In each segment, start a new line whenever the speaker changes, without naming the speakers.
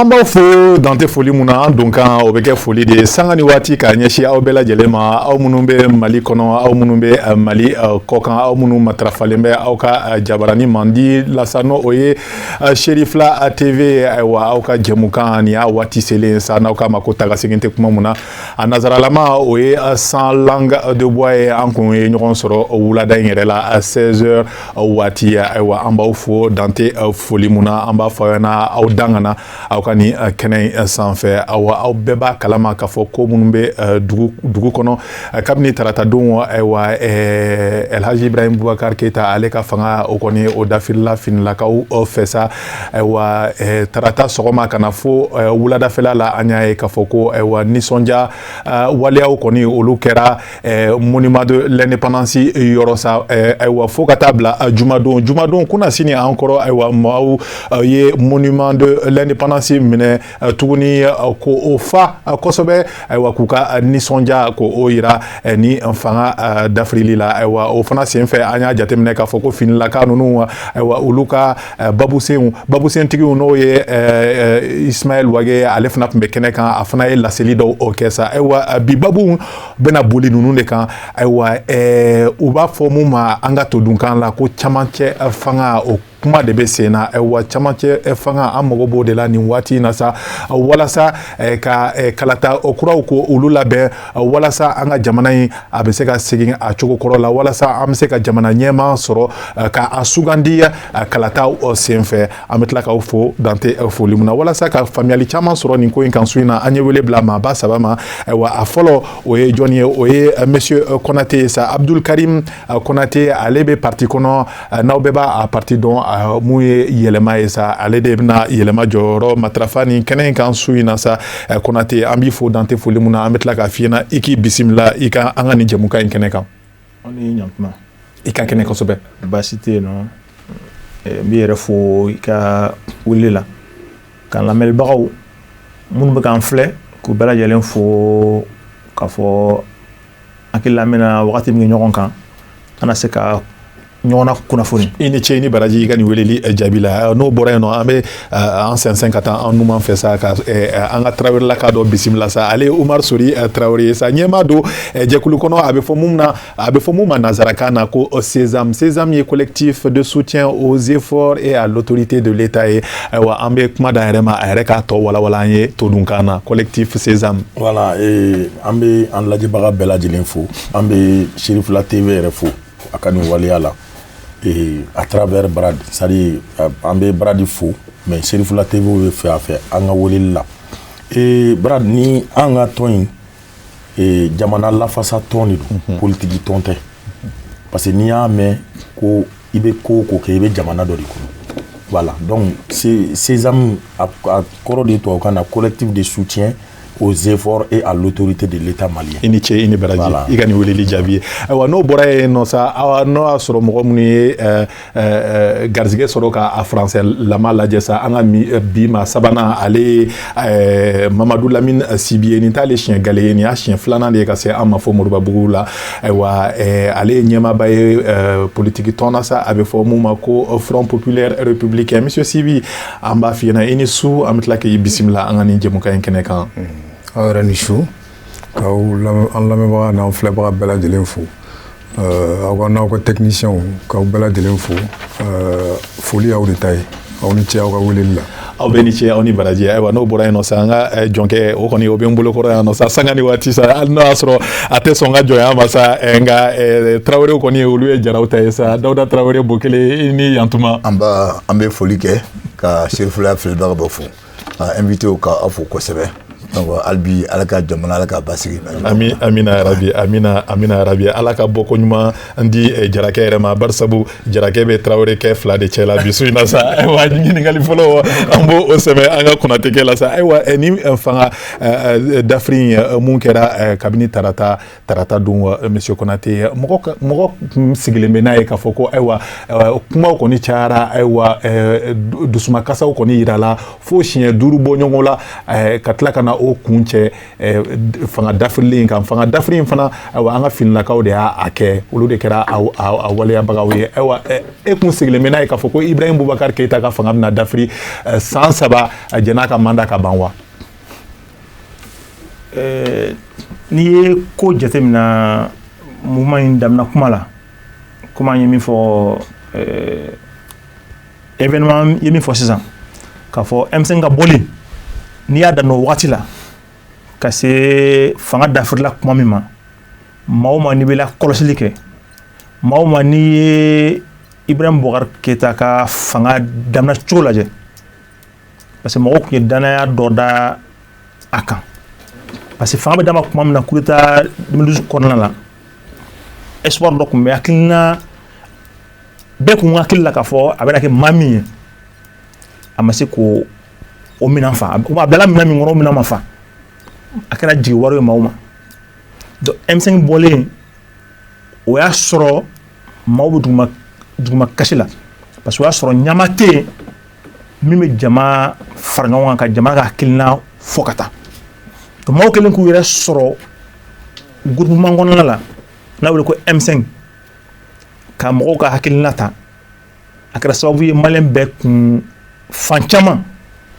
an b'aw fo dan tɛ foli mun na an donkan o bɛ kɛ foli de ye sanga ni waati k'a ɲɛsin aw bɛɛ lajɛlen ma aw minnu bɛ mali kɔnɔ aw minnu bɛ eh, mali eh, kɔkan aw minnu matarafalen bɛ aw ka eh, jabarani mandi la sa n'o o ye sherifla tv ayiwa aw ka jɛmukan nin y'a waati selen sa n'aw k'a ma ko tagasegin tɛ kuma mun na a nazaralama o ye sans langue de bois ye an kun ye ɲɔgɔn sɔrɔ wulada in yɛrɛ la 16 heures waati ayiwa an b'aw fo dan tɛ foli mun na an b'a fɔ aw ɲɛna aw dangana aw ka nin kɛnɛ in sanfɛ awa aw bɛɛ b'a kalama k'a fɔ ko minnu bɛ dugu dugu kɔnɔ kabini taratadon ayiwa elhaji ibrahim bubakar keyita ale ka fanga o kɔni o dafirila finilakaw fɛ sa ayiwa eh, tarata sɔgɔma ka na fo eh, wuladafɛla la an y'a ye k'a fɔ ko ayiwa nisɔndiya eh, waleyaw kɔni olu kɛra monument de l'indépendance yɔrɔ sa ayiwa fo ka taa bila jumadon jumadon kunasini an kɔrɔ ayiwa maaw ye monument de l'indépendance minɛ tuguni ko o fa kosɛbɛ ayiwa k'u ka nisɔndiya ko o yira ni fanga dafirili la ayiwa o fana senfɛ an y'a jateminɛ k'a fɔ ko finilaka ninnu ayiwa olu ka babusen babusentigiw n'o ye ismaɛl wage ale fana tun bɛ kɛnɛ kan a fana ye laseli dɔw o kɛ sa ayiwa bi babu bɛna boli ninnu de kan ayiwa u b'a fɔ mun ma an ka todunkan la ko camancɛ fanga o kuma de bɛ sen na ayiwa camancɛ fanga an mago b'o de la nin waati in na sa walasa ka kalata kuraw ko olu labɛn walasa an ka jamana in a bɛ se ka segin a cogo kɔrɔ la walasa an bɛ se ka jamana ɲɛmaa sɔrɔ k'a sugandi kalata senfɛ an bɛ tila k'aw fo dan tɛ foli mun na walasa ka faamuyali caman sɔrɔ nin ko in kan su in na an ye wele bila maaba saba ma ayiwa a fɔlɔ o ye jɔn ye o ye monsieur konate ye sa abdul karim Euh, Konate ale bɛ parti kɔnɔ euh, n'aw bɛɛ b'a parti dɔn euh, mun ye yɛlɛma ye sa ale de bɛna yɛlɛma jɔyɔrɔ matarafa nin kɛnɛ in kan su in na sa Konate an b'i fo dan tɛ foli mun na an bɛ tila k'a f'i ɲɛna i k'i bisimila i ka an ka nin jɛmukan in kɛnɛ kan aw ni
ɲantuma i ka
kɛnɛ kosɛbɛ baasi tɛ yen
nɔ n b'i yɛrɛ fo i ka weleli la ka lamɛnbagaw minnu bɛ k'an filɛ k'u bɛɛ lajɛlen fo k'a fɔ an hakili la an bɛna wagati min kɛ ɲɔgɔn kan an na se ka ɲɔgɔn lakunnafoni i ni ce i ni baraji i ka nin weleli eh, jaabi la eh, n'o bɔra yen nɔ an bɛ eh, an sɛnsɛn ka taa an numan fɛ sa ka an ka tarawelelaka dɔ bisimila sa ale umar sori tarawele ye sa ɲɛmaa don jɛkulu kɔnɔ a bɛ fɔ mun na a bɛ fɔ mun ma nanzarakan na ko sesam sesam ye collectif de soutien aux efforts et à l'autorité de l'état ye ayiwa an bɛ kuma d'a yɛrɛ ma a yɛrɛ k'a tɔ walawala an ye todunkan na collectif sesam voilà
An bɛ an lajɛbaga bɛɛ lajɛlen fo an bɛ Cherifla TV yɛrɛ fo a ka nin waleya la à travers Brad c'est-à-dire an bɛ Brad fo mais Cherifla TV bɛ fɛ a fɛ an ka weleli la ee Brad ni an ka tɔn in jamana lafasa tɔn de don politigi tɔn tɛ parce que n'i y'a mɛn ko i bɛ ko o ko kɛ i bɛ jamana dɔ de kɔnɔ voilà donc Sésame a kɔrɔ de tubabukan na collectif de soutien aux efforts et à l'autorité de l'État malien i ni ce i ni baraji
voilà. i ka nin weleli jaabi ye ayiwa n'o bɔra yen nɔ sa awa n'o y'a sɔrɔ mɔgɔ minnu ye uh, uh, garizigɛ sɔrɔ ka a français lama lajɛ sa an ka eh, bi maa sabanan ale ye uh, mamadu lamine sibi ye nin t'ale siɲɛ gale ye nin y'a siɲɛ filanan de ye ka se an ma fo moribabugu la ayiwa uh, ale ye ɲɛmaaba ye uh, politiki tɔn na sa a bɛ fɔ mun ma ko front populaire républicain monsieur sibi an b'a f'i ɲɛna i ni su an bɛ tila k'i bisimila an ka nin jɛmukan in kɛnɛ kan aw yɛrɛ ni
su k'aw an lamɛnbaga n'an filɛbaga bɛɛ lajɛlen fo aw ka n'aw ka tɛkinisiyɛnw k'aw bɛɛ lajɛlen fo foli y'aw de ta ye aw ni ce aw ka weleli la aw bɛɛ ni ce aw ni
baraji ayiwa n'o bɔra yen nɔ sa an ka jɔnkɛ o kɔni o bɛ n bolokɔrɔ yan nɔ sa sanga ni waati sa hali n'o y'a sɔrɔ a tɛ sɔn ka jɔnya ma sa eh, nka eh, tarawelew kɔni ye olu ye jaraw ta ye sa dawuda tarawele bo kelen i ni yantuma an ba an bɛ
foli kɛ ka Cherifla filɛbaga bɛɛ fo ka invitew ka aw fo kosɛbɛ donc hali bi ala ka jamana ala ka basigi amina yarabi
amina amina yarabi ala ka bɔko ɲuman di eh, jarakɛ yɛrɛ ma barisabu jarakɛ bɛ tarawele kɛ fila de cɛ la bi su in na sa ayiwa ɲininkali fɔlɔ an b'o sɛmɛ an ka konatekɛ la sa ayiwa eh, ni eh, fanga dafiri in mun kɛra kabini tarata tarata don wa monsieur konate mɔgɔ mɔgɔ sigilen bɛ n'a ye k'a fɔ ko ayiwa kumaw kɔni cayara ayiwa dusumakasaw kɔni yirala fo siɲɛ duuru bɔ ɲɔgɔn la ka tila ka na o kun cɛ eh, fanga dafirilen kan fanga dafiri in fana ayiwa an ka finilakaw de y'a kɛ olu de kɛra a waleyabagaw ye ayiwa eh, e kun sigilen bɛ n'a ye k'a fɔ ko ibrahim bubakari keyita ka fanga bɛna dafiri eh, san saba jann'a ka mandat ka ban
wa n'i ye ko jateminɛ mouvement in damina kuma la komi an ye min fɔ e ye min fɔ sisan k'a fɔ M5 ka bɔli n'i y'a daminɛ o waati la ka se fanga dafirila kuma min ma maa o maa n'i bɛ lakɔlɔsili kɛ maa o maa n'i ye ibrahim bubakari keyita ka fanga daminɛ cogo lajɛ parce que mɔgɔw tun ye dannaya dɔ da a kan parce que fanga bɛ d'a ma tuma min na coup d'état 2012 kɔnɔna la espoir dɔ tun bɛ hakilina bɛɛ kun hakili la k'a fɔ a bɛna kɛ maa min ye a ma se k'o minɛn fa a bilala minɛn min kɔnɔ minɛn ma fa a kɛra jigi waaro ye maaw ma donc M5 bɔlen o y'a sɔrɔ maaw bɛ duguma kasi la parce que o y'a sɔrɔ ɲɛmaa tɛ yen min bɛ jama fara ɲɔgɔn kan ka jama ka hakilina fɔ ka taa donc maaw kɛlen k'u yɛrɛ sɔrɔ groupement kɔnɔna la n'a wele ko M5 ka mɔgɔw ka hakilina ta a kɛra sababu ye maliyɛn bɛɛ kun fan caman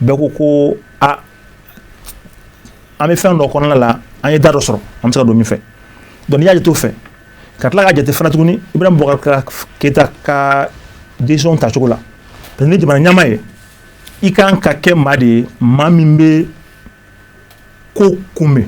bɛɛ ko ko a an bɛ fɛn dɔ kɔnɔna la an ye da dɔ sɔrɔ an bɛ se ka don min fɛ donc n'i y'a jate o fɛ ka tila k'a jate fana tuguni Ibrahim Boubacar Keita ka décision tacogo la parce que ni jamana ɲɛmaa ye i kan ka kɛ maa de ye maa min bɛ ko kunbɛn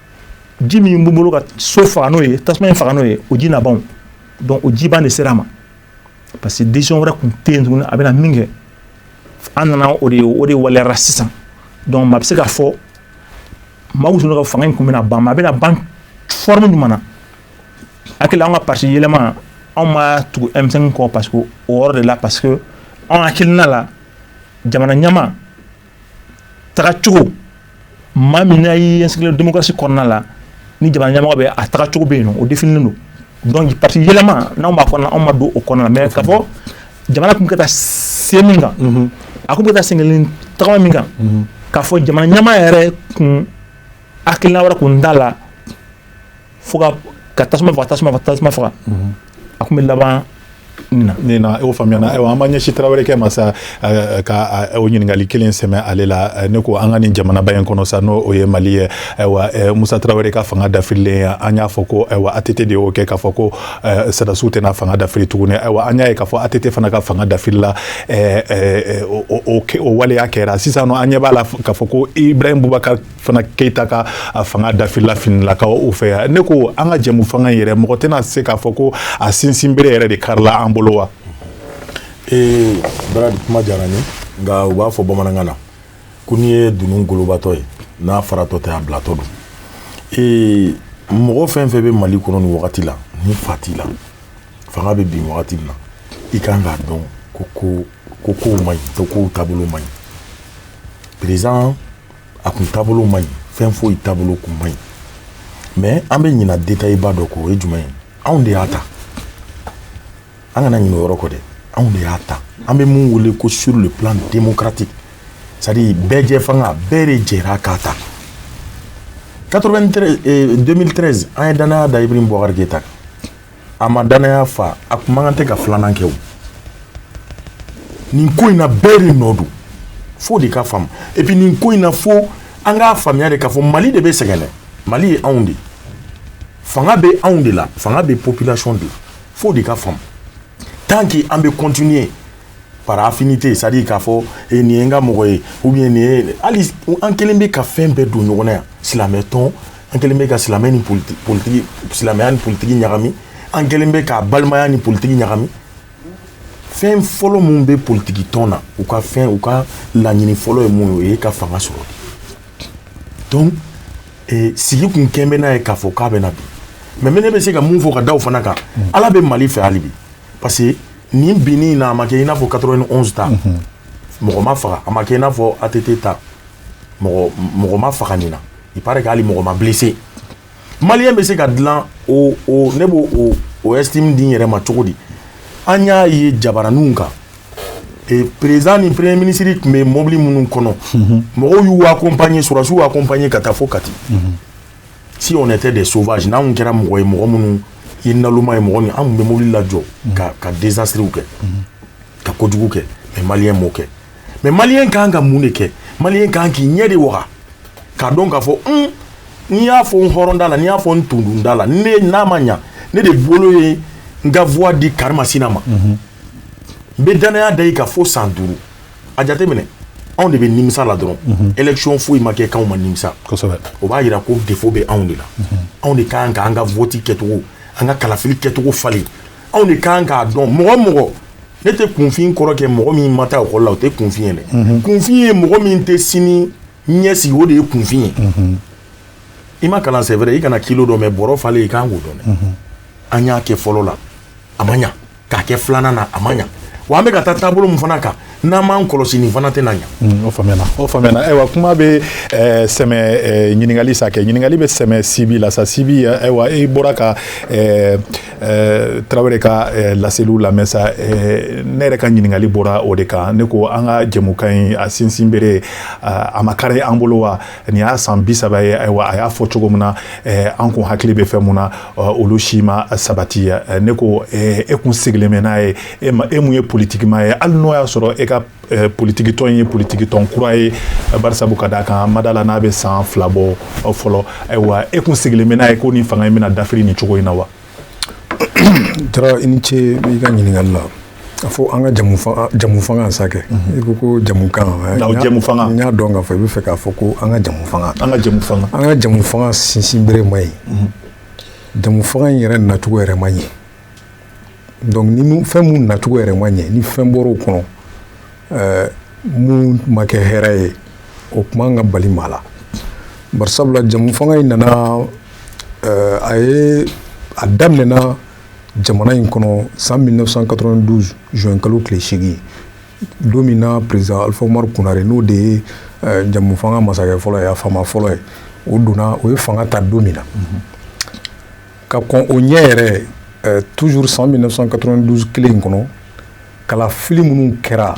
ji min b'u bolo ka so faga n'o ye tasuma in faga n'o ye o ji na ban donc o jiban de sera a ma parce que décision wɛrɛ tun tɛ yen tuguni a bɛna min kɛ an nana o de ye o de waleyara sisan donc maa bɛ se k'a fɔ maaw tun ka fanga in tun bɛna ban mais a bɛna ban forme jumɛn na hakili an ka parti yɛlɛma anw ma tugu M5 kɔ parce que o yɔrɔ de la parce que anw hakilina la jamana ɲɛmaa tagacogo maa min n'a y'i inscrire démocratie kɔnɔna la ni jamana ɲɛmɔgɔ bɛ a tagacogo bɛ yen nɔ o définilen don donc parti yɛlɛma n'anw b'a kɔnɔna anw ma don o kɔnɔna la mais k'a fɔ jamana kun bɛ ka taa sen min kan mhm. a kun bɛ ka taa senkelen tagama min kan mhm. k'a fɔ jamana ɲɛmaa yɛrɛ kun hakilina wɛrɛ kun t'a la fo ka tasuma faga tasuma faga tasuma faga a kun bɛ laban nin
na o faamuyana ayiwa an b'an ɲɛsin tarawele kɛ ma sa ka o ɲininkali kelen sɛmɛ ale la ne ko an ka nin jamanaba in kɔnɔ sa n'o ye mali ye ayiwa musa tarawele ka fanga dafirilen ye an y'a fɔ ko ayiwa ATT de y'o kɛ k'a fɔ ko sɔrɔdasiw tɛna fanga dafiri tuguni ayiwa an y'a ye k'a fɔ ATT fana ka fanga dafirila o waleya kɛra sisan nɔ an ɲɛ b'a la k'a fɔ ko ibrahim bubakar fana keyita ka fanga dafirila finilakaw fɛ yan ne ko an ka jɛmu fanga in yɛrɛ mɔgɔ tɛna se k'a fɔ ko a sinsin bere yɛrɛ de karila an bolo wa ee baradi
kuma diyara n ye nka u b'a fɔ bamanankan na ko n'i ye dunun golobatɔ ye n'a faratɔ tɛ a bilatɔ don ee mɔgɔ fɛn fɛn bɛ mali kɔnɔ nin wagati la ni fa t'i la fanga bɛ bin wagati min na i kan k'a dɔn ko ko ko kow man ɲi ko kow taabolo man ɲi président a kun taabolo man ɲi fɛn foyi taabolo kun man ɲi mais an bɛ ɲina détail ba dɔ kɔ o ye jumɛn ye anw de y'a ta an kana ɲinɛ o yɔrɔ kɔ dɛ anw de y'a ta an bɛ mun wele ko sur le plan démocratique c'est à dire bɛɛ jɛ fanga bɛɛ de jɛra k'a ta 2013 an ye danaya da Ibrahim Boubacar Keita kan A ma danaya fa a tun man kan tɛ ka filanan kɛ o nin ko in na bɛɛ de nɔ don fo o de ka faamu et puis nin ko in na fo an k'a faamuya de k'a fɔ Mali de bɛ sɛgɛn dɛ Mali ye anw de ye fanga bɛ anw de la fanga bɛ population de la fo o de ka faamu tant que an bɛ continuer par affinité c'est à dire k'a fɔ e nin ye n ka mɔgɔ ye ou bien nin ye hali an kɛlen bɛ ka fɛn bɛɛ don ɲɔgɔn na yan silamɛ tɔn an kɛlen bɛ ka silamɛ ni politiki politiki silamɛya ni politiki ɲagami an kɛlen bɛ ka balimaya ni politiki ɲagami fɛn fɔlɔ min bɛ politiki tɔn na u ka fɛn u ka laɲini fɔlɔ ye mun ye o ye ka fanga sɔrɔ donc eh, sigi kun kɛlen bɛ n'a ye k'a fɔ k'a bɛna bin mais mais ne bɛ se ka min fɔ ka da o fana kan ala bɛ mali fɛ hali bi parce que nin binni in na a ma kɛ i n'a fɔ 91 ta mɔgɔ ma faga a ma kɛ i n'a fɔ ATT ta mɔgɔ mɔgɔ ma faga nin na il paraît que hali mɔgɔ ma blessé maliyɛn bɛ se ka dilan o o ne b'o o o estime di n yɛrɛ ma cogo di an y'a ye jabaraninw kan e président ni premier ministre tun bɛ mobili minnu kɔnɔ mɔgɔw y'u accompagner sɔrɔdasiw y'u accompagner ka taa fo Kati. si on était des sauvages n'anw kɛra mɔgɔ ye mɔgɔ minnu ye naloma ye mɔgɔ min an tun bɛ mobili lajɔ ka ka désastrew kɛ ka kojugu kɛ mais maliyɛn m'o kɛ mais maliyɛn kan ka mun de kɛ maliyɛn kan k'i ɲɛ de waga k'a dɔn k'a fɔ un n'i y'a fɔ n hɔrɔnda la n'i y'a fɔ n tundunda la ne n'a ma ɲa ne de bolo ye n ka voix di karimasina ma n bɛ dannaya da i kan fo san duuru a jateminɛ anw de bɛ nimisa la dɔrɔn élection foyi ma kɛ k'anw ma nimisa o b'a jira ko défaut bɛ anw de la anw de kan ka an ka vote kɛcogo an ka kalafili kɛcogo falen anw de kan k'a dɔn mɔgɔ mɔgɔ ne tɛ kunfin kɔrɔ kɛ mɔgɔ min ma taa ekɔli la o tɛ kunfin ye dɛ kunfin ye mɔgɔ min tɛ siniɲɛsigi o de ye kunfin ye i ma kalan c'est vrai i kana kilo dɔn mais bɔrɔ falen i kan k'o dɔn dɛ an y'a kɛ fɔlɔ la a ma ɲa k'a kɛ filanan na a ma ɲa wa an bɛ ka taa taabolo min fana kan n'an m'an kɔlɔsi nin fana tɛna ɲa mm, o faamuyana o faamuyana
ayiwa kuma bɛ eh, sɛmɛ eh, ɲininkali sa kɛ ɲininkali bɛ sɛmɛ sibi la sa sibi eh, ayiwa i bɔra ka Tarawele ka laseliw lamɛn sa ne yɛrɛ ka ɲininkali bɔra o de kan ne ko an ka jɛmukan in a sinsinbere a ma kari an bolo wa nin y'a san bi saba ye ayiwa a y'a fɔ cogo min na eh, an kun hakili bɛ fɛn minnu na eh, olu si ma sabati eh, ne ko e kun sigilen bɛ n'a ye e ma e min ye politikimaa ye hali n'o y'a sɔrɔ e ka politikitɔn ye politikitɔn kura ye bari sabu ka d'a kan n ma d'a la n'a bɛ san fila bɔ fɔlɔ ayiwa e kun sigilen bɛ n'a ye ko nin fanga in bɛna dafiri nin cogo in na wa
Jara i ni ce i ka ɲininkali la a fɔ an ka jamu fanga jamu fanga sa kɛ i ko ko jamu kan jamu fanga n y'a dɔn k'a fɔ i bɛ fɛ k'a fɔ ko an ka jamu fanga an ka jamu fanga an ka jamu fanga sinsin bere ma ɲi jamu fanga in yɛrɛ nacogo yɛrɛ ma ɲɛ donc ni fɛn mun nacogo yɛrɛ ma ɲɛ ni fɛn bɔr'o kɔnɔ ɛɛ mun ma kɛ hɛrɛ ye o kun man ka bali maa la barisabula jamu fanga in nana a ye a daminɛɛna jamana in kɔnɔ san mi san ka zɔnkalo tile sigi don min na perez alifaru kunɛre n'o de ye jamumufan masakɛ fɔlɔ ye a fa fɔlɔ ye o donna o ye fanga ta don min na ka kɔn o ɲɛ yɛrɛ tu san mi san ka kelen in kɔnɔ kalafili minnu kɛra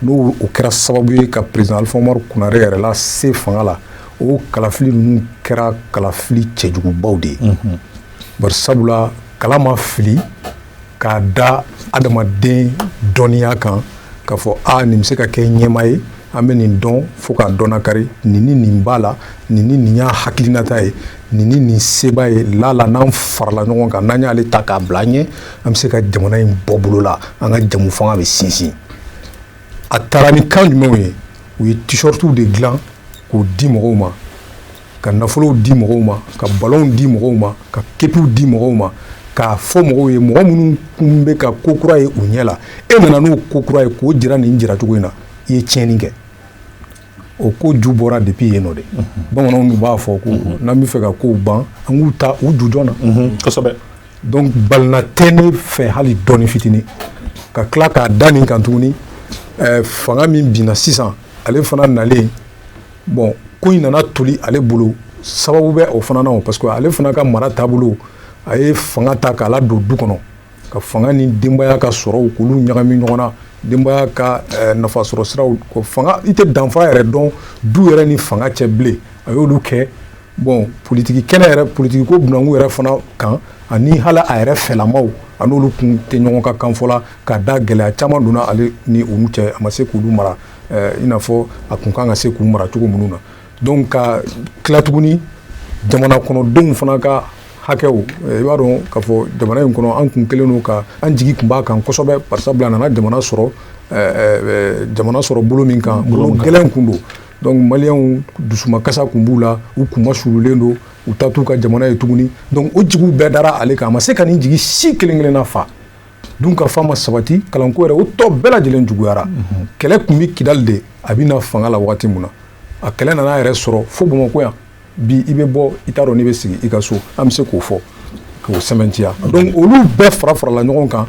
n'o kɛra sababu ye ka président Alifa Umaru Konare yɛrɛ lase fanga la o kalafili ninnu kɛra kalafili cɛjugubaw de ye mhm. bari sabula kala ma fili k'a da adamaden dɔnniya kan k'a fɔ a nin bɛ se ka kɛ ɲɛmaa ye an bɛ nin dɔn fo k'a dɔnna kari nin ni nin b'a la nin ni nin y'a hakilinata ye nin ni nin se b'a ye lala n'an farala ɲɔgɔn kan n'an y'ale ta k'a bila an ɲɛ an bɛ se ka jamana in bɔ bolo la an ka jamu fanga bɛ sinsin a taara ni kan jumɛnw ye u ye t-shirtiw de dilan k'o di mɔgɔw ma ka nafolow di mɔgɔw ma ka balonw di mɔgɔw ma ka kepiw di mɔgɔw ma k'a fɔ mɔgɔw ye mɔgɔ minnu kun bɛ ka ko kura ye u ɲɛ la e nana n'o ko kura ye k'o jira nin jiracogo in na i ye tiɲɛni kɛ o ko ju bɔra depuis yen nɔ de bamananw b'a fɔ ko n'an bɛ fɛ ka kow ban an k'u ta u ju jɔn na
kosɛbɛ
donc balina tɛ ne fɛ hali dɔɔni fitinin ka tila k'a da nin kan tuguni fanga min binna sisan ale fana nalen bon ko in nana toli ale bolo sababu bɛ o fana na o parce que ale fana ka mara taabolo a ye fanga ta k'a ladon du kɔnɔ ka fanga ni denbaya ka sɔrɔw k'olu ɲagami ɲɔgɔn na denbaya ka eh, nafasɔrɔ siraw ko fanga i tɛ danfara yɛrɛ dɔn du yɛrɛ ni fanga cɛ bilen a y'olu kɛ bon politiki kɛnɛ yɛrɛ politiki ko bunanku yɛrɛ fana kan ani hali a yɛrɛ fɛlamaw a n'olu kun tɛ ɲɔgɔn ka kan fɔla ka da gɛlɛya caman donna ale ni olu cɛ a ma se k'olu mara eh, i n'a fɔ a kun kan ka se k'u mara cogo minnu na Donc ka tila tuguni jamana kɔnɔdenw fana ka hakɛw i b'a dɔn k'a fɔ jamana in kɔnɔ an kun kelen don ka an jigi kun b'a kan kosɛbɛ parce que a nana jamana sɔrɔ jamana sɔrɔ bolo min kan bolo gɛlɛn kun don donc maliyɛnw dusumakasa kun b'u la u kunmasuulilen don u ta t'u ka jamana ye tuguni donc o jigiw bɛɛ dara ale kan a ma se ka nin jigi si kelen-kelenna fa dunkafa ma sabati kalanko yɛrɛ o tɔ bɛɛ lajɛlen juguyara mhm. kɛlɛ tun bɛ kidali de a bɛ na fanga la waati min na a kɛlɛ nana yɛrɛ sɔrɔ fo bamakɔ yan bi i bɛ bɔ i t'a dɔn n'i bɛ segin i ka so an bɛ se k'o fɔ k'o sɛmɛntiya mhm. donc olu bɛɛ fara farala ɲɔgɔn kan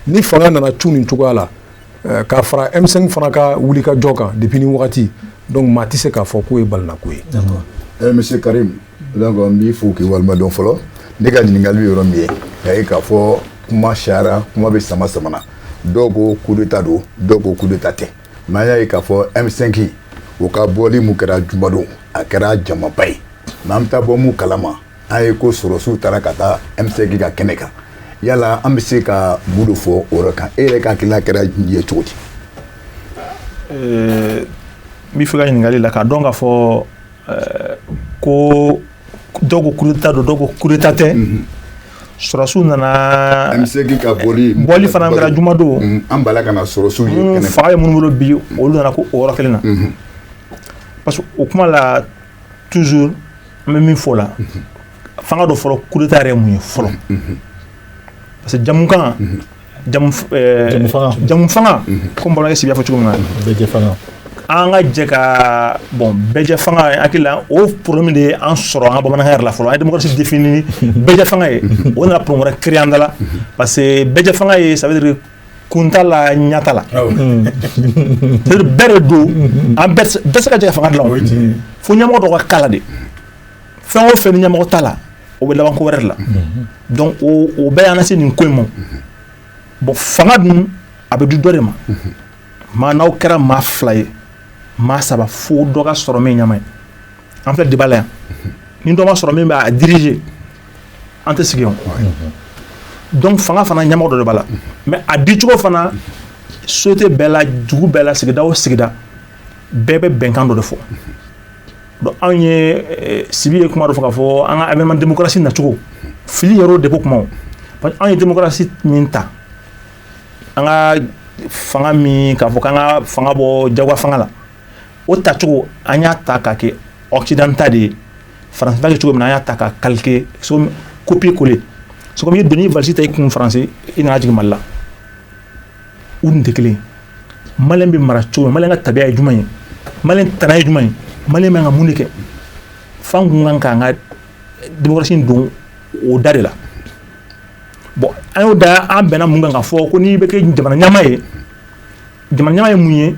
ni fanga nana cu nin cogoya la eh, k'a fara M5 fana ka wulikajɔ kan depuis ni wagati donc maa tɛ se k'a fɔ k'o ye balinako ye. D'accord. Eh, monsieur Karim
Donc n b'i fo k'i waleɲumandɔn fɔlɔ ne ka ɲininkali bɛ yɔrɔ min ye a ye k'a fɔ kuma cayara kuma bɛ sama sama na dɔw ko coup d'état don dɔw ko coup d'état tɛ mais an y'a ye k'a fɔ M5 o ka bɔli min kɛra jumadon a kɛra jamaba ye mais an bɛ taa bɔ mun kalama an ye ko sɔrɔsiw taara ka taa M5 ka kɛnɛ kan yala an bɛ se ka mun de fɔ o yɔrɔ kan e yɛrɛ ka hakilina kɛra ye cogo di n
b'i fo i ka ɲininkali la k'a dɔn k'a fɔ ko dɔw ko coup d'état don dɔw ko coup d'état tɛ sɔrɔsiw nana M5 ka
bɔli fana kɛra juma don
an bala ka na sɔrɔsiw
ye kɛnɛ kan fanga ye minnu bolo bi
olu nana ko o yɔrɔ kelen na parce que o kuma la toujours n bɛ min fɔ o la f'an k'a dɔn fɔlɔ coup d'état yɛrɛ ye mun ye fɔlɔ parce que jamukan jamu fanga ko bɔra sigi fɔ cogo min na
an ka jɛ
ka bɔn bɛɛjɛ fanga hakili o p min de ye an sɔrɔ an ka bamanan la fɔlɔ amasi def bɛɛjɛ fanga ye o nana p wɛrɛ kiri an da la parce que bɛɛjɛ fanga ye sabari kunta la ɲata la bɛɛ de don an bɛɛ se ka jɛ fanga la fo ɲamɔgɔ dɔgɔ ka kala de fɛn o fɛn ni ɲɛmɔgɔ t'a la o bɛ laban ko wɛrɛ de la donc o bɛɛ y'an lase nin ko in ma bon fanga dun a bɛ di dɔ de ma maa n'aw kɛra maa fila ye maa saba fo dɔ ka sɔrɔ min ɲama ye an filɛ débat la yan ni dɔ ma sɔrɔ min b'a diriger an tɛ sigi yan donc fanga fana ɲamɔgɔ dɔ de b'a la mais a dicogo fana société bɛɛ la dugu bɛɛ la sigida o sigida bɛɛ bɛ bɛnkan dɔ de fɔ Bon anw ye Sibi ye kuma dɔ fɔ k'a fɔ an ka avènement démocratie nacogo fili yɛrɛ de ko kuma parce que anw ye démocratie min ta an ka fanga min k'a fɔ k'an ka fanga bɔ jagoya fanga la o tacogo an y'a ta k'a kɛ occident ta de ye faransi b'a kɛ cogo min na an y'a ta k'a calquer copier coller c'est comme i ye doni valise ta i kun faransi i n'a jigin mali la u tɛ kelen ye malien bɛ mara cogo min malien ka tabiya ye jumɛn ye malien tana ye jumɛn ye malien bɛ ka mun de kɛ f'an tun kan k'an ka démocratie don o da de la bon an y'o da an bɛnna mun kan k'a fɔ ko n'i bɛ kɛ jamana ɲamaa ye jamana ye mun ye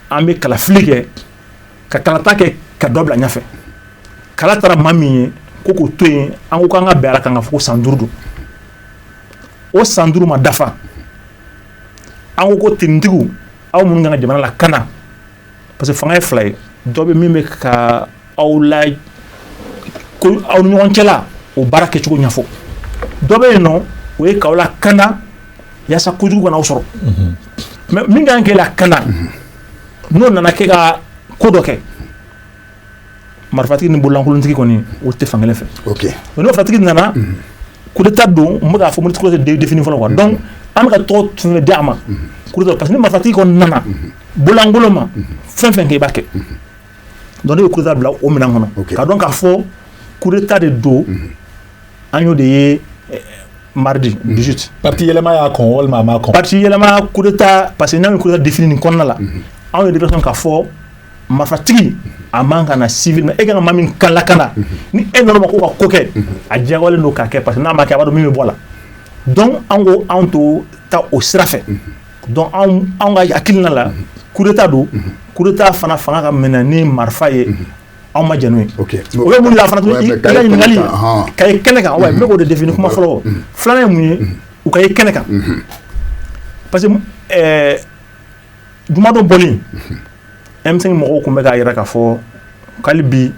an bɛ kalafili kɛ ka kalata kɛ ka dɔ bila ɲɛfɛ kala tara maa min ye ko k'o to yen an ko k'an ka bɛn a kan k'a fɔ san duuru don o san duuru ma dafa an ko ko tenitigiw aw minnu kan ka jamana lakanda parce que fanga ye fila ye dɔ bɛ min bɛ ka aw la ko aw ni ɲɔgɔn cɛla o baara kɛcogo ɲɛfɔ dɔ bɛ yen n'o ye k'aw lakanda yaasa kojugu kana aw sɔrɔ mais min kan k'e lakanda n'o nana kɛ ka ko dɔ kɛ marifatigi ni bololankolontigi kɔni o tɛ fan kelen fɛ marifatigi nana coup d'état don k'a fɔ tɔgɔ défini fɔlɔ quoi donc an ka tɔgɔ tun di a ma parce que marifatigi kɔni nana bololankolon ma fɛn fɛn kɛ i b'a kɛ donc n bɛ coup d'état bila o minɛn kɔnɔ ka dɔn k'a fɔ coup d'état de don an y'o de ye mardi dix-huit parti yɛlɛma y'a
kɔn walima parti yɛlɛma coup
d'état parce que n' bɛ coup d'état défini kɔnɔna la anw yɛrɛ de ka fɔ marifatigi a man ka na civil e kan ka maa min lakana ni e nana ma ko ka ko kɛ a diyagoyalen don k'a kɛ parce que n'a ma kɛ a b'a dɔn min bɛ bɔ a la donc an ko anw tɛ taa o sira fɛ anw ka hakilina la coup d'état don coup d'état fana fanga ka minɛ ni marifa ye anw ma jɛn n'o ye o ye mun fana ɲininkali ka kɛnɛ kan wa n bɛ k'o de défini kuma fɔlɔ filanan ye mun ye u ka ye kɛnɛ kan parce que jumadon bɔli M5 mɔgɔw tun bɛ k'a yira k'a fɔ k'hali bi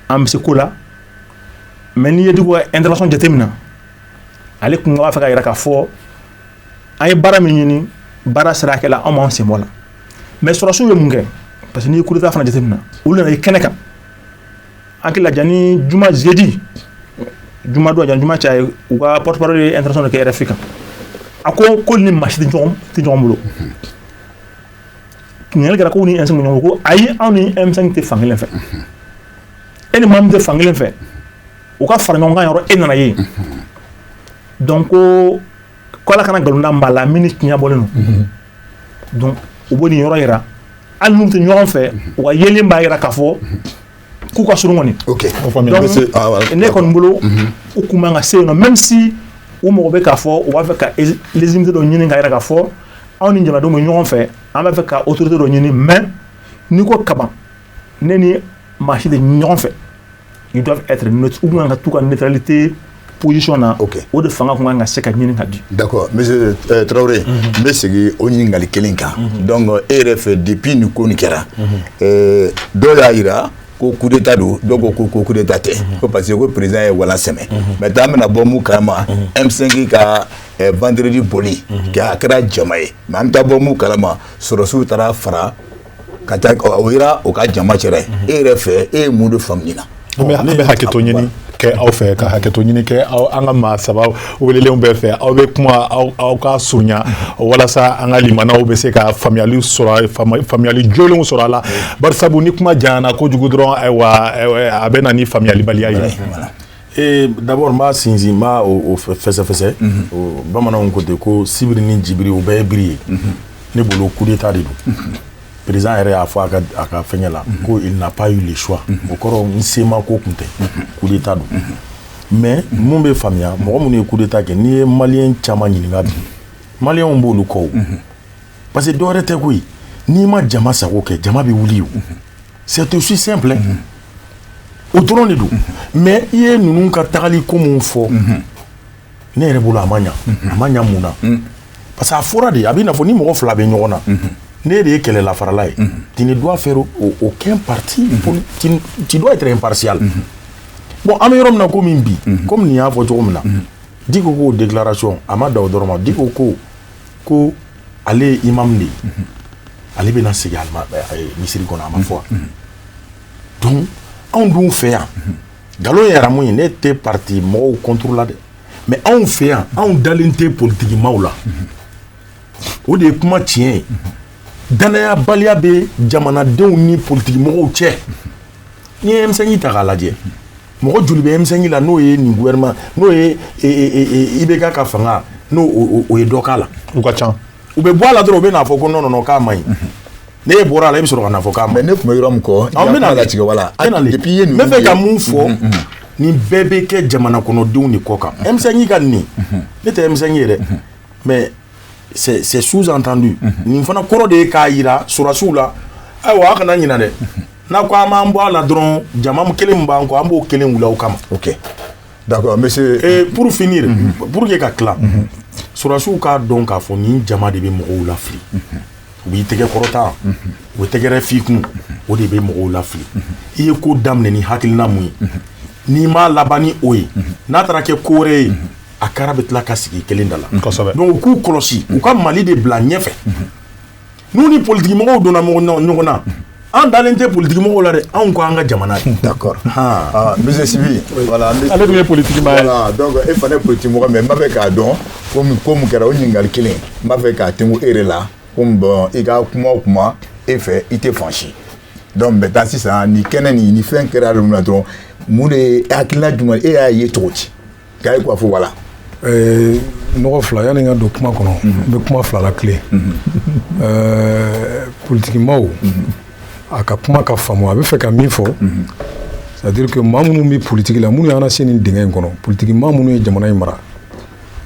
an bɛ se ko la mais n'i ye Dicko ka intervention jate minɛ ale tun b'a fɛ k'a yira k'a fɔ an ye baara min ɲini baara sera hakɛ la anw b'an sen bɔ a la mais sɔrɔsiw ye mun kɛ parce que n'i ye coup d'état fana jate minɛ olu nana ye kɛnɛ kan an hakili la janni juma jeudi juma don janni juma cɛ a ye u ka porte-parole ye intervention de kɛ RFI kan a ko ko ni maa si tɛ ɲɔgɔn bolo ɲininkali kɛra ko ni M5 bɛ ɲɔgɔn bolo ko ayi anw ni M5 tɛ fankelen fɛ e ni maa min tɛ fankelen fɛ u ka fara ɲɔgɔnkan yɔrɔ e nana ye donc ko Ala kana nkalon da maa la min ni tiɲɛ bɔlen don donc u bɛ nin yɔrɔ jira hali n'u tɛ ɲɔgɔn fɛ u ka yeli b'a jira k'a fɔ k'u ka surun kɔni ne kɔni bolo u tun man ka se yen même si u mɔgɔ bɛ k'a fɔ u b'a fɛ ka légitimité dɔ ɲini k'a yira k'a fɔ anw ni jamanadenw bɛ ɲɔgɔn fɛ an b'a fɛ ka autorité dɔ ɲini mais n'i ko kaban ne ni maa si tɛ ɲɔgɔn fɛ ils doivent être neutres u kan ka t'u ka neutralité position na okay. o de fanga kun kan ka se ka ɲini ka di d'accord monsieur euh,
Traoré n bɛ segin o ɲininkali kelen kan donc e yɛrɛ fɛ depuis nin ko nin kɛra euh, dɔw y'a jira ko coup d'état don dɔw ko ko ko coup d'état tɛ ko parce que ko président ye walan sɛmɛ maintenant an bɛna bɔ mun kalama M5 ka euh, vendredi bɔli k'a kɛra jama ye mais an bɛ taa bɔ mun kalama sɔrɔsiw taara fara ka taa o yira o ka jama cɛra e yɛrɛ fɛ e ye mun de faamu nin na ne bɛ
hakɛto ɲini kɛ aw fɛ ka hakɛto ɲini kɛ aw an ka maa saba welelenw bɛɛ fɛ aw bɛ kuma aw ka surunya walasa an ka limanaw bɛ se ka faamuyali sɔrɔ faamuyali jɔlenw sɔrɔ a la barisabu ni kuma janyana kojugu dɔrɔn ayiwa a bɛ na ni faamuyalibaliya ye
Ee d'abord n b'a sinsin b'a fɛsɛfɛsɛ bamananw ko ten ko sibiri ni jibiri u bɛɛ ye biri ye ne bolo kudeta de don président yɛrɛ y'a fɔ a ka fɛn la ko il n'a pas eu le choix o kɔrɔ n sema ko kun tɛ kudeta don mais mun bɛ faamuya mɔgɔ minnu ye kudeta kɛ n'i ye maliyɛn caman ɲininka bi maliyɛnw b'olu kɔ parce que dɔwɛrɛ tɛ koyi n'i ma jama sago kɛ jama bɛ wuli ye c'est aussi simple o dɔrɔn de don mais i ye ninnu ka tagali ko min fɔ ne yɛrɛ bolo a ma ɲa a ma ɲa mun na parce que a fɔra de a bɛ na fɔ ni mɔgɔ fila bɛ ɲɔgɔn na ne de ye kɛlɛla farala ye tu ne dois faire aucun parti tu dois être impartial bon an bɛ yɔrɔ min na ko min bi comme nin y'a fɔ cogo min na Dicko k'o déclaration a ma da o dɔrɔn ma Dicko ko ko ale ye imamu de ye ale bɛna segin ale misiri kɔnɔ a ma fɔ wa donc anw dun fɛ yan nkalon yɛrɛmu ye ne tɛ pati mɔgɔw contre la dɛ mais anw fɛ yan anw dalen tɛ politigimaaw la o de ye kuma tiɲɛ ye dannayabaliya bɛ jamanadenw ni politigimɔgɔw cɛ n'i ye M5 ta k'a lajɛ mɔgɔ joli bɛ M5 la n'o ye nin gouvernement n'o ye IBK ka fanga n'o o ye dɔ k'a la u ka ca u
bɛ bɔ a la dɔrɔn u bɛ
n'a fɔ ko non non non k'a man ɲi ne e bɔra a la e bɛ sɔrɔ ka na fɔ k'a man ɲi mais ne tun bɛ yɔrɔ min
kɔ an bɛn'a latigɛ
wala
depuis i ye nin n bɛ
fɛ ka mun fɔ nin bɛɛ bɛ kɛ jamana kɔnɔdenw de kɔ kan M5 ka nin ne tɛ M5 ye dɛ mais c'est sous-entendu mhm. nin fana kɔrɔ de ye k'a yira sɔrɔdasiw la ayiwa aw kana ɲinɛ dɛ mhm. n'a ko a b'an bɔ a la dɔrɔn jama kelen min b'an kɔ an b'o kelen wuli aw kama. ok
d'accord monsieur. et pour finir.
Mhm. pour que ka tila. sɔrɔdasiw k'a dɔn k'a fɔ nin jama de bɛ mɔgɔw lafili. u b'i tɛgɛ kɔrɔta. u bɛ tɛgɛrɛ f'i kun. o de bɛ mɔgɔw lafili. i ye ko daminɛ ni hakilina mun ye. n'i m'a laban ni o ye. n'a taara kɛ ko wɛrɛ ye. a kara bɛ tila ka sigi kelen da la donc u k'u kɔlɔsi u ka mali de bila ɲɛfɛ n'u ni politigimɔgɔw donna ɲɔgɔn na an dalen tɛ politigimɔgɔ la dɛ anw ko an ka jamana ye
d'accord ale dun ye politigi
e fana
ye politigimɔgɔ mais n b'a fɛ k'a dɔn ko mun kɛra o ɲininkali kelen n b'a fɛ k'a tɛmɛ e la comme bon i ka kuma o kuma e fɛ i tɛ fan si donc maintenant sisan ni kɛnɛ nin ni fɛn kɛra dɔrɔn mun de ye hakilina jumɛn e y'a ye cogo di K'a ye quoi fɔ voilà
ɛɛ mɔgɔ fila yani n ka don kuma kɔnɔ n bɛ kuma fila latilen ɛɛ politigi maaw a ka kuma ka faamu a bɛ fɛ ka min fɔ c'est-à-dire que maa minnu bɛ politigi la minnu y'an lase nin dingɛ in kɔnɔ politigi maa minnu ye jamana in mara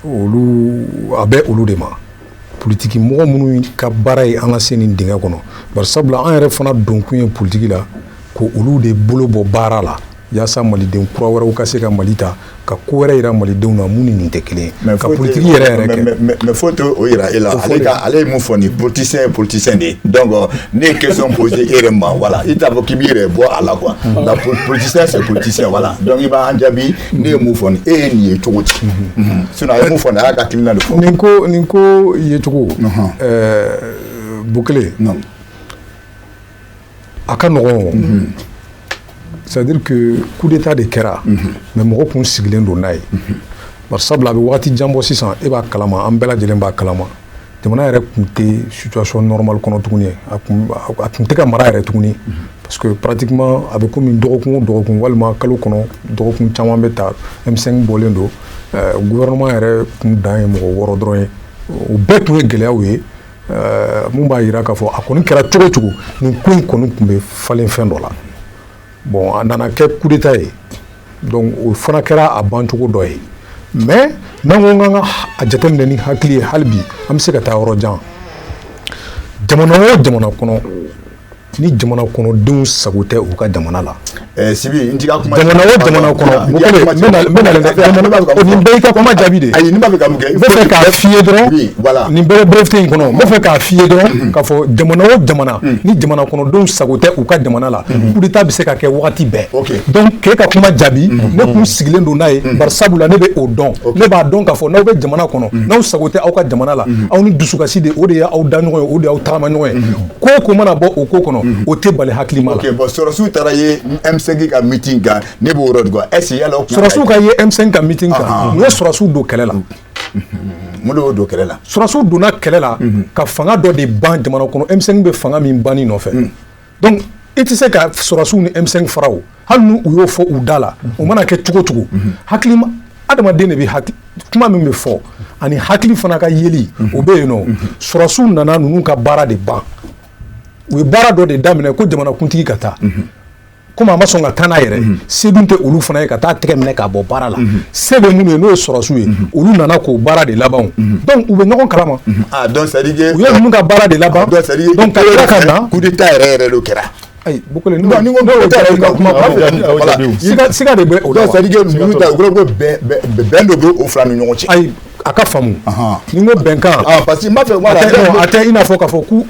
olu a bɛ olu de ma politigi mɔgɔ minnu ka baara ye an lase nin dingɛ kɔnɔ bari sabula an yɛrɛ fana donkun ye politigi la ko olu de bolo bɔ baara la Yaasa maliden kura wɛrɛw ka se ka Mali ta ka ko wɛrɛ jira malidenw na min ni nin tɛ kelen ye ka politigi yɛrɛ yɛrɛ kɛ mais foyi t'o jira
e la ale ye mun fɔ ni politicien ye politicien de donc ne ye question poser e yɛrɛ ma voilà i t'a fɔ k'i b'i yɛrɛ bɔ a la quoi nka politicien c'est politicien voilà donc i b'an jaabi ne ye mun fɔ ni e ye nin ye cogo di sinon a ye mun fɔ a y'a ka hakilina de fɔ nin ko nin ko
yecogo bu kelen a ka nɔgɔn c'est-à-dire kudeta de kɛra mais mɔgɔ kun sigilen don n'a ye bari sabula a bɛ waati jan bɔ sisan e b'a kalama an bɛɛ lajɛlen b'a kalama jamana yɛrɛ tun tɛ situation normale kɔnɔ tuguni a tun tɛ ka mara yɛrɛ tuguni parce que pratiquement a bɛ kɔmi dɔgɔkun o dɔgɔkun walima kalo kɔnɔ dɔgɔkun caman bɛ taa M5 bɔlen don gouvernement yɛrɛ kun dan ye mɔgɔ wɔɔrɔ dɔrɔn ye o bɛɛ tun ye gɛlɛya ye Ɛɛ mun b'a jira k'a fɔ a kɔni kɛra cogo cogo nin ko in kɔni tun bɛ falen fɛn dɔ la bon a nana kɛ kudeta ye donc o fana kɛra a bancogo dɔ ye mais n'an ko k'an ka a jateminɛ ni hakili ye hali bi an bɛ se ka taa yɔrɔ jan jamana o jamana kɔnɔ ni jamana kɔnɔdenw sago tɛ u ka jamana la eh, Sibi n
ka kuma jamana o
jamana kɔnɔ n b'e ka kuma jaabi de ayi n b'a fɛ ka mun kɛ n b'a fɛ
k'a f'i
ye dɔrɔn nin bɛɛ
brefte in kɔnɔ
n b'a fɛ k'a f'i ye dɔrɔn mm-hmm. k'a fɔ jamana o jamana mm. ni jamana kɔnɔdenw sago tɛ u ka jamana la mm-hmm. kudeta bɛ se ka kɛ wagati bɛɛ donc k'e ka kuma jaabi mm-hmm. ne kun sigilen don n'a ye bari sabula ne bɛ o dɔn ne b'a dɔn k'a fɔ n'aw bɛ jamana kɔnɔ n'aw sago tɛ aw ka jamana la aw ni dusukasi de o de ye aw da ɲɔgɔn ye o de y'aw tagama ɲɔgɔn ye ko o ko mana bɔ o ko kɔnɔ mhm. o tɛ bala hakilima la okay, bon, sɔrɔsiw
taara ye M5 ka meeting kan ne b'o yɔrɔ de quoi est ce que yala o kuma sɔrɔsiw ka ye M5 ka
meeting kan ah, ah. u ye sɔrɔsiw don kɛlɛ la
mhm. mun de y'o don kɛlɛ la sɔrɔsiw donna kɛlɛ la
mhm. ka fanga dɔ de ban jamana kɔnɔ M5 bɛ fanga min banni nɔfɛ donc i tɛ se ka sɔrɔsiw ni M5 fara o hali n u y'o fɔ u da la o mana kɛ cogo cogo hakilima adamaden de bɛ kuma min bɛ fɔ ani hakili fana ka yeli o bɛ yen nɔ sɔrɔsiw nana ninnu ka baara de ban u ye baara dɔ de daminɛ ko jamanakuntigi ka taa komi a ma sɔn ka taa n'a yɛrɛ se tɛ olu fana ye ka taa tɛgɛ minɛ k'a bɔ baara la se bɛ minnu ye n'o ye sɔrɔsiw ye olu nana k'o baara de laban donc u bɛ ɲɔgɔn kalama
u ye ninnu ka baara de
laban
ka
na yɛrɛ yɛrɛ kɛra
ayi bu kelen ni
ko coup d'état
yɛrɛ ka kuma kuma fɛ wala
siga siga de bɛ o la c'est à dire ninnu ta u
ko ko bɛn bɛn dɔ bɛ o fila ni ɲɔgɔn cɛ ayi a ka faamu
ni n ko bɛnkan ah, parce que n b'a fɛ
voilà a tɛ i n'a fɔ k'a
fɔ k'u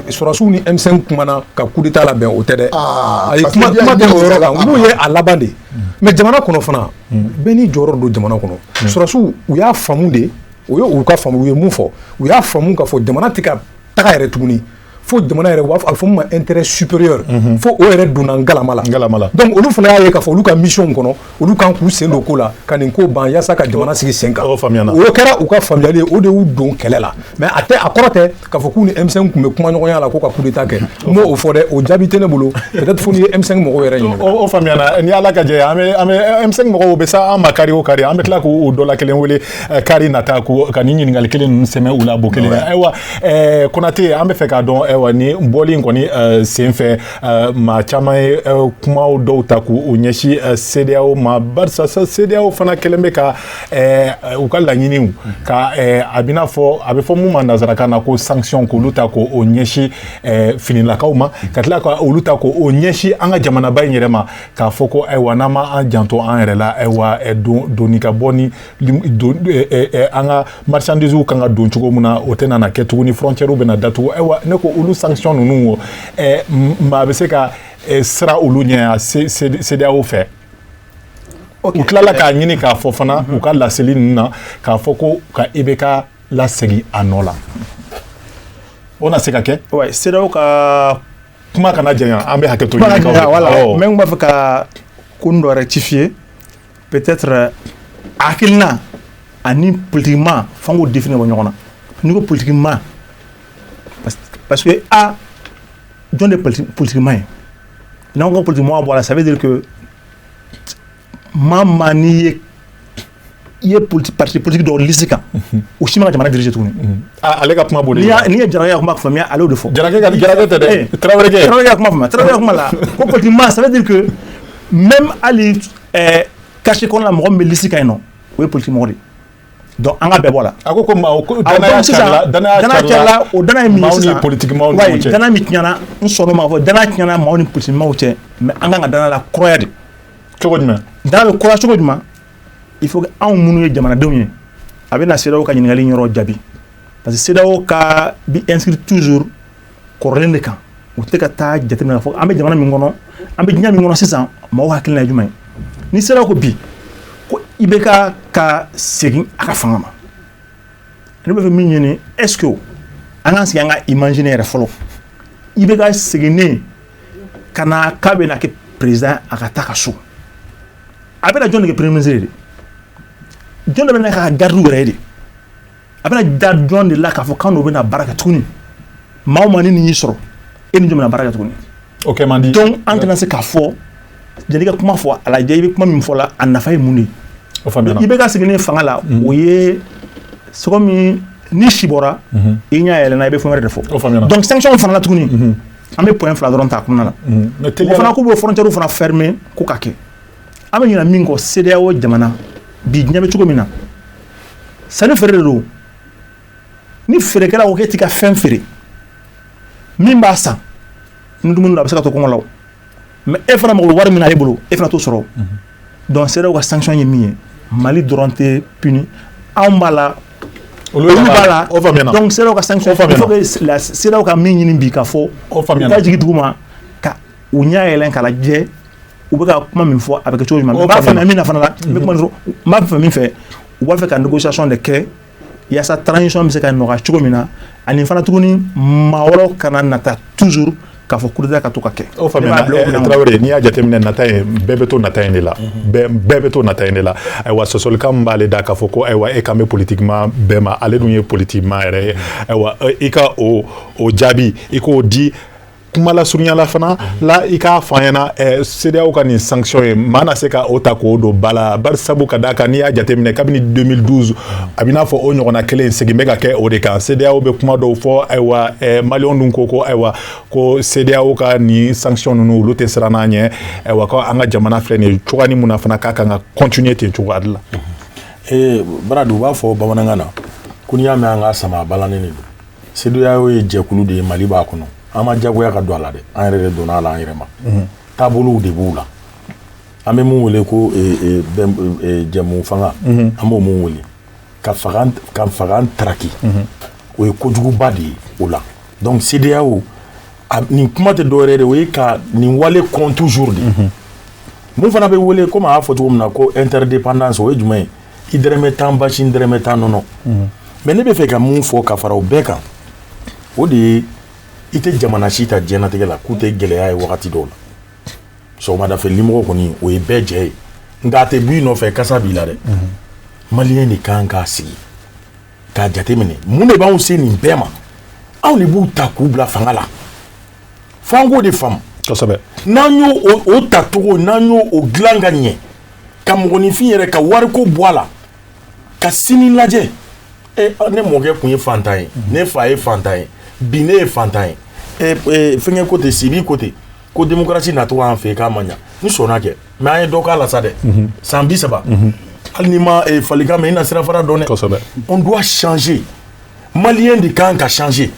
sɔrɔsiw eh, ni M5 kumana ka coup d'état labɛn o tɛ dɛ ah, ayi kuma kuma tɛ o yɔrɔ kan olu ye a laban de hmm. mais jamana kɔnɔ fana hmm. bɛɛ n'i jɔyɔrɔ don jamana kɔnɔ hmm. sɔrɔsiw u y'a faamu de o ye u ka faamu u ye mun fɔ u y'a faamu k'a fɔ jamana tɛ ka taga yɛrɛ tuguni fo jamana yɛrɛ b'a fɔ a fɔ min ma intérêt supérieur mhm. fo o yɛrɛ donna ngalama la ngalama la donc olu fana y'a ye k'a fɔ olu ka mission kɔnɔ olu kan k'u sen don ko la ka nin ko ban yasa ka jamana sigi sen kan o faamuyana o kɛra u ka faamuyali ye o de y'u don kɛlɛ la mais a tɛ a kɔrɔ tɛ k'a fɔ k'u ni M5 tun bɛ kuma ɲɔgɔnya la ko ka coup d'état kɛ n m'o fɔ dɛ o jaabi tɛ ne bolo peut-être fo n'i ye M5 mɔgɔw yɛrɛ ɲininka o faamuyana ni
Ala ka jɛ an bɛ an bɛ M5 mɔgɔw bɛ se an ma kari o kari an bɛ tila k'u dɔ la kelen wele kari nata ko ka nin ɲininkali kelen ninnu sɛmɛ u la bo kelen ayiwa ɛɛ konate an bɛ fɛ k'a dɔn ayiwa ni bɔli in kɔni eh, senfɛ eh, maa caman ye eh, kumaw dɔw ta k'u u ɲɛsin CEDEAO ma barisa CEDEAO fana kɛlen bɛ ka u ka laɲiniw ka a bɛna fɔ a bɛ fɔ mun ma nansarakan na ko sanction k'olu ta k'o ɲɛsin finilakaw ma ka tila ka olu ta k'o ɲɛsin an ka jamanaba in yɛrɛ ma k'a fɔ ko ayiwa n'an ma an janto an yɛrɛ la ayiwa don donni ka bɔ ni an ka marchandises kan ka don cogo min na o tɛna na kɛ tuguni ni frontières bɛna datugu ayiwa ne ko olu sanction ninnu maa bɛ se ka siran olu ɲɛ CEDEAO fɛ u tilala k'a ɲini k'a fɔ fana u ka laseli ninnu na k'a fɔ ko ka IBK lasegin a nɔ la o na se ka kɛ CEDEAO ka
kuma kana
janya an bɛ hakɛ to
mais n b'a fɛ ka ko dɔ rectifier Peut-être hakilina ani politique maa f'an k'o définir ka bɔ ɲɔgɔn na, n'i ko politique maa parce que a jɔn de ye politique maa ye? N'an ko politique maa bɔ a la ça veut dire que maa o maa n'i ye i ye politique parti politique dɔ liste kan o si man ka jamana diriger tuguni, ale ka kuma
b'o de la, n'i ye Jarakɛ ka kuma faamuya
ale y'o de fɔ, Jarakɛ tɛ dɛ, Tarawelekɛ,
Tarawelekɛ ka kuma faamuya, Tarawelekɛ
ka kuma la ko politique maa ça veut dire que même hali ɛɛ quartier kɔnɔna mɔgɔ min bɛ liste kan yen nɔ o ye politique mɔgɔ de donc an ka bɛɛ bɔ la a ko ko maa ko
danaya carila danaya carila
o danaya min ye sisan politiki maaw ni ɲɔgɔn cɛ danaya
min tiɲɛna
n sɔnna o ma fɔ danaya tiɲɛna maaw ni politiki maaw cɛ mais an ka kan ka danaya lakuraya de cogo
jumɛn danaya bɛ kuraya
cogo jumɛn il faut que anw minnu ye jamanadenw ye a bɛ na CEDEAO ka ɲininkali yɔrɔ jaabi parce que CEDEAO ka bi inscrit toujours kɔrɔlen de kan u tɛ ka taa jateminɛ k'a fɔ an bɛ jamana min kɔnɔ an bɛ diɲɛ min kɔnɔ sisan maaw hakilina ye jumɛn ni CEDEAO ko bi ko IBK ka segin a ka fanga ma ne bɛ fɛn min ɲini est-ce que an k'an sigi an ka imaginer yɛrɛ fɔlɔ IBK seginnen ka na k'a bɛ na kɛ président a ka taa ka so a bɛna jɔn de kɛ premier ministre ye de jɔn de bɛna k'a ka gardiw yɛrɛ ye de a bɛna da jɔn de la k'a fɔ k'an n'o bɛna baara kɛ tuguni maa o maa ni nin y'i sɔrɔ e ni jɔn bɛna baara kɛ tuguni o kɛ man di donc
an tɛna se k'a fɔ
jann'i ka kuma fɔ a lajɛ i bɛ kuma min fɔ la a nafa ye mun de ye o faamuyana IBK seginnen fanga la mhm. o ye sogo min ni si bɔra mhm. i ɲɛ yɛlɛna i bɛ fɛn wɛrɛ de fɔ o faamuyana donc sanction fana la tuguni mhm. an bɛ point fila dɔrɔn ta a kɔnɔna la o fana k'u bɛ frontière fana fermer ko ka kɛ an bɛ ɲina min kɔ CEDEAO jamana bi diɲɛ bɛ cogo min na sanni feere de don ni feerekɛla ko k'e t'i ka fɛn feere min b'a san ni dumuni don a bɛ se ka to kɔngɔ la mais e fana mako wari min na e bolo e fana t'o sɔrɔ donc CEDEAO ka sanction ye min ye mali dɔrɔn tɛ puni anw b'a la olu b'a la donc CEDEAO ka sanction il faut que la CEDEAO ka min ɲini bi k'a fɔ u ka jigin duguma ka u ɲɛ yɛlɛ k'a lajɛ U bɛ ka kuma min fɔ a bɛ kɛ cogo jumɛn n b'a fɛ min fana la n b'a fɛ min fɛ u b'a fɛ ka négociation de kɛ yaasa transition bɛ se ka nɔgɔya cogo min na ani fana tuguni maa wɛrɛw kana nata toujours k'a fɔ coup d'état ka to ka kɛ
Tarawele n'i y'a jateminɛ nata in bɛɛ bɛ to nata in de la bɛɛ bɛ to nata in de la ayiwa sɔsɔlikan min b'ale da k'a fɔ ko ayiwa e kan bɛ politikimaa bɛɛ ma ale dun ye politikimaa yɛrɛ ye ayiwa i ka o jaabi i k'o di kumalasurunya la fana la i k'a fɔ an ɲɛna eh, CEDEAO ka nin sanction ye maa na se ka o ta k'o don ba la bari sabu ka d'a kan n'i y'a jateminɛ kabini 2012 a bɛ n'a fɔ o ɲɔgɔnna kelen segin bɛ ka kɛ o de kan CEDEAO bɛ kuma dɔw fɔ ayiwa eh, maliyɛnw dun ko ko ayiwa ko CEDEAO ka nin sanction ninnu olu tɛ siran a ɲɛ ayiwa ko an ka jamana filɛ nin ye cogoya nin min na fana k'a kan ka continuer ten cogoya de la. Eh,
Baradu u b'a fɔ bamanankan na ko n'i y'a mɛn an k'a sama a balannen de don. CEDEAO ye jɛkulu de ye Mali b'a kɔnɔ an ma jagoya ka don a la dɛ an yɛrɛ de donna a la an yɛrɛ ma taabolow de b'u la an bɛ min wele ko jɛmufanga an b'o min wele ko ka fanga taraki o ye kojuguba de ye o la donc CEDEAO nin kuma tɛ dɔwɛrɛ de o ye ka nin wale kɔn toujours de min fana bɛ wele komi a y'a fɔ cogo min na ko interdépendance o ye jumɛn ye i dɛrɛmɛ tan basi n dɛrɛmɛ tan nɔnɔ mais ne bɛ fɛ ka mun fɔ ka fara o bɛɛ kan o de ye i tɛ jamana si ta diɲɛnatigɛ la k'u tɛ gɛlɛya ye wagati dɔw la sɔgɔmadafɛ limɔgɔ kɔni o ye bɛɛ jɛ ye nka a tɛ b'i nɔfɛ kasa b'i la dɛ maliyɛn de kan k'a sigi k'a jateminɛ mun de b'anw se nin bɛɛ ma anw de b'u ta k'u bila fanga la fo an k'o de faamu kosɛbɛ n'an
y'o
o tacogo n'an y'o o dilan ka ɲɛ ka mɔgɔninfin yɛrɛ ka wariko bɔ a la ka sini lajɛ eh, ne mɔkɛ tun ye fantan ye mhm. ne fa ye fantan ye bi ne ye fantan ye eh, eh, fɛnkɛ ko ten sibi ko ten ko demokarasi nacogo an fɛ k'a ma ɲa n sɔnna kɛ mais an ye dɔ k'a la sa dɛ mhm. san bi saba mhm. hali n'i ma falikan mɛn i na sirafara dɔn dɛ on doit changer maliyɛn de kan ka changer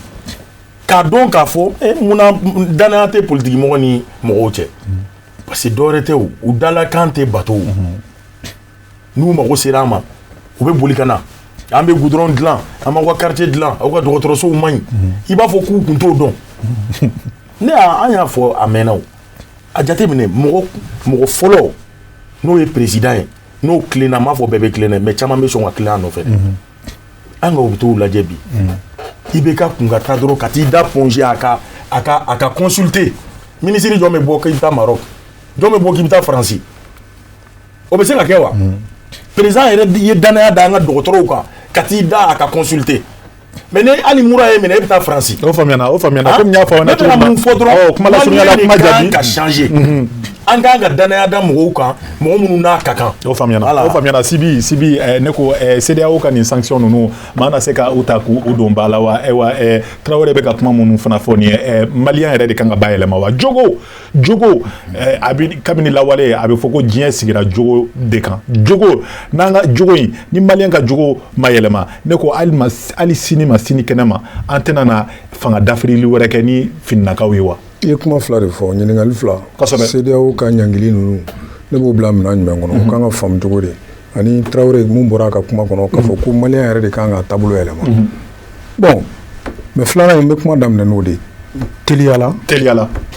k'a dɔn k'a fɔ munna danaya tɛ politikimɔgɔ ni mɔgɔw cɛ parce que dɔwɛrɛ tɛ o u dalakan tɛ bato n'u mago sera an ma u bɛ boli ka na an bɛ gudɔrɔn dilan an b'aw ka quartier dilan aw ka dɔgɔtɔrɔsow man ɲi i b'a fɔ k'u tun t'o dɔn ne an y'a fɔ a mɛnna o a jateminɛ mɔgɔ fɔlɔ n'o ye président ye n'o tilenna n m'a fɔ bɛɛ bɛ tilen dɛ mais caman bɛ sɔn ka tilen a nɔfɛ an ka hôpitaux lajɛ bi IBK kun ka taa dɔrɔn ka t'i da Point G a ka consulter minisiri jɔn bɛ bɔ k'i bɛ taa Maroc jɔn bɛ bɔ k'i bɛ taa faransi o bɛ se ka kɛ wa président yɛrɛ ye danaya da an ka dɔgɔtɔrɔw kan ka t'i da a ka consulter mais ne hali mura y'e minɛ e bɛ taa faransi o o
y'a fɔ
ka an k'an ka danaya da mɔgɔw kan mɔgɔ minnu n'a ka kan o
faamuyana sibi sibi eh, ne ko eh, CEDEAO ka nin sanction ninnu maa na se ka u ta k'u don ba la wa ayiwa eh, tarawele bɛ ka kuma minnu fana fɔ nin ye maliyɛn yɛrɛ de kan ka bayɛlɛma wa jogo jogo a bɛ kabini lawale a bɛ fɔ ko diɲɛ sigira jogo de kan jogo n'an ka jogo in ni maliyɛn ka jogo ma yɛlɛma ne ko hali sini ma sini kɛnɛ ma an tɛna na fanga dafirili wɛrɛ kɛ ni finakaw ye wa I ye kuma fila de
fɔ ɲininkali fila CEDEAO
ka
ɲangili ninnu ne b'o bila minɛn jumɛn kɔnɔ o kan ka faamu cogo di ani tarawele mun bɔra a ka kuma kɔnɔ k'a fɔ ko maliyɛn yɛrɛ de ka kan ka taabolo yɛlɛma bon mais filanan in bɛ kuma daminɛ n'o de teliyala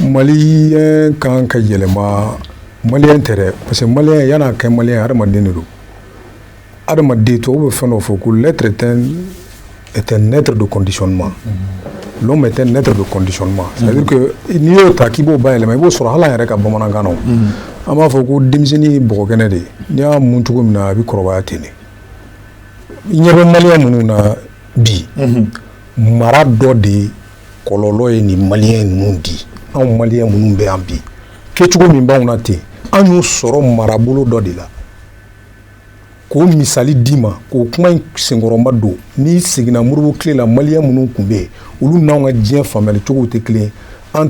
maliyɛn kan ka yɛlɛma maliyɛn tɛ dɛ parce que maliyɛn yann'a kɛ maliyɛn adamaden de don adamaden tubabu bɛ fɛn dɔ fɔ ko l'être est un être de conditionnement l'homme est un être de conditionnement n'i y'o ta k'i b'o bayɛlɛma i b'o sɔrɔ hali an yɛrɛ ka bamanankan na an b'a fɔ ko denmisɛnnin ye bɔgɔkɛnɛ de ye n'i y'a mun cogo min na a bɛ kɔrɔbaya ten de i ɲɛ bɛ maliyɛn minnu na bi mara dɔ de kɔlɔlɔ ye nin maliyɛn ninnu di anw maliyɛn minnu bɛ yan bi kɛcogo min b'anw na ten an y'o sɔrɔ marabolo dɔ de la k'o misali d'i ma k'o kuma in senkɔrɔma don n'i seginna Modibo tile la maliyɛn minnu tun bɛ yen olu n'an ka diɲɛ faamuyali cogow tɛ kelen an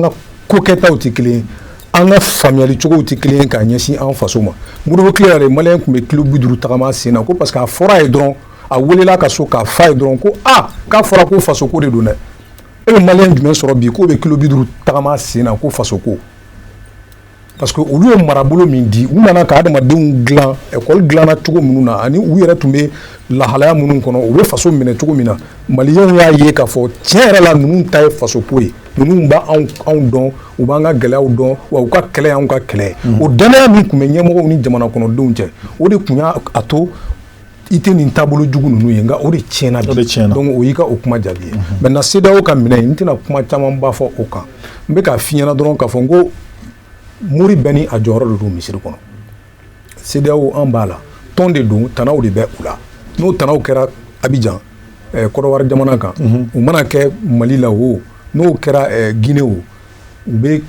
ka kokɛtaw tɛ kelen an ka faamuyali cogow tɛ kelen k'a ɲɛsin an faso ma Modibo tile yɛrɛ maliyɛn tun bɛ kilo bi duuru tagama sen na ko parce que a fɔra a ye dɔrɔn a welela ka so k'a f'a ye dɔrɔn ko aa k'a fɔra ko faso ko de don dɛ e bɛ maliyɛn jumɛn sɔrɔ bi k'o bɛ kilo bi duuru tagama sen na ko faso ko parce que olu ye marabolo min di u nana ka adamadenw dilan ekɔli dilanna cogo minnu na ani u yɛrɛ tun bɛ lahalaya minnu kɔnɔ u bɛ faso minɛ cogo min na maliyɛnw y'a ye k'a fɔ tiɲɛ yɛrɛ la ninnu ta ye faso ko ye ninnu b'anw dɔn u b'an ka gɛlɛyaw dɔn wa u ka kɛlɛ y'anw ka kɛlɛ ye o dannaya min tun bɛ ɲɛmɔgɔw ni jamana kɔnɔdenw cɛ o de tun y'a to i tɛ nin taabolo jugu ninnu ye nka o de tiɲɛna bi donc o y'i ka o kuma jaabi ye mhm. maintenant CEDEAO ka minɛ n tɛna kuma camanba fɔ o kan n bɛ k'a f'i ɲɛna dɔrɔn k'a fɔ n ko mori bɛɛ ni a jɔyɔrɔ de don misiri kɔnɔ CEDEAO an b'a la tɔn de don tanaw de bɛ u la n'o tanaw kɛra Abidjan eh, Kɔdiwari jamana kan mhm. u mana kɛ Mali la o n'o kɛra eh, Guinée o u bɛ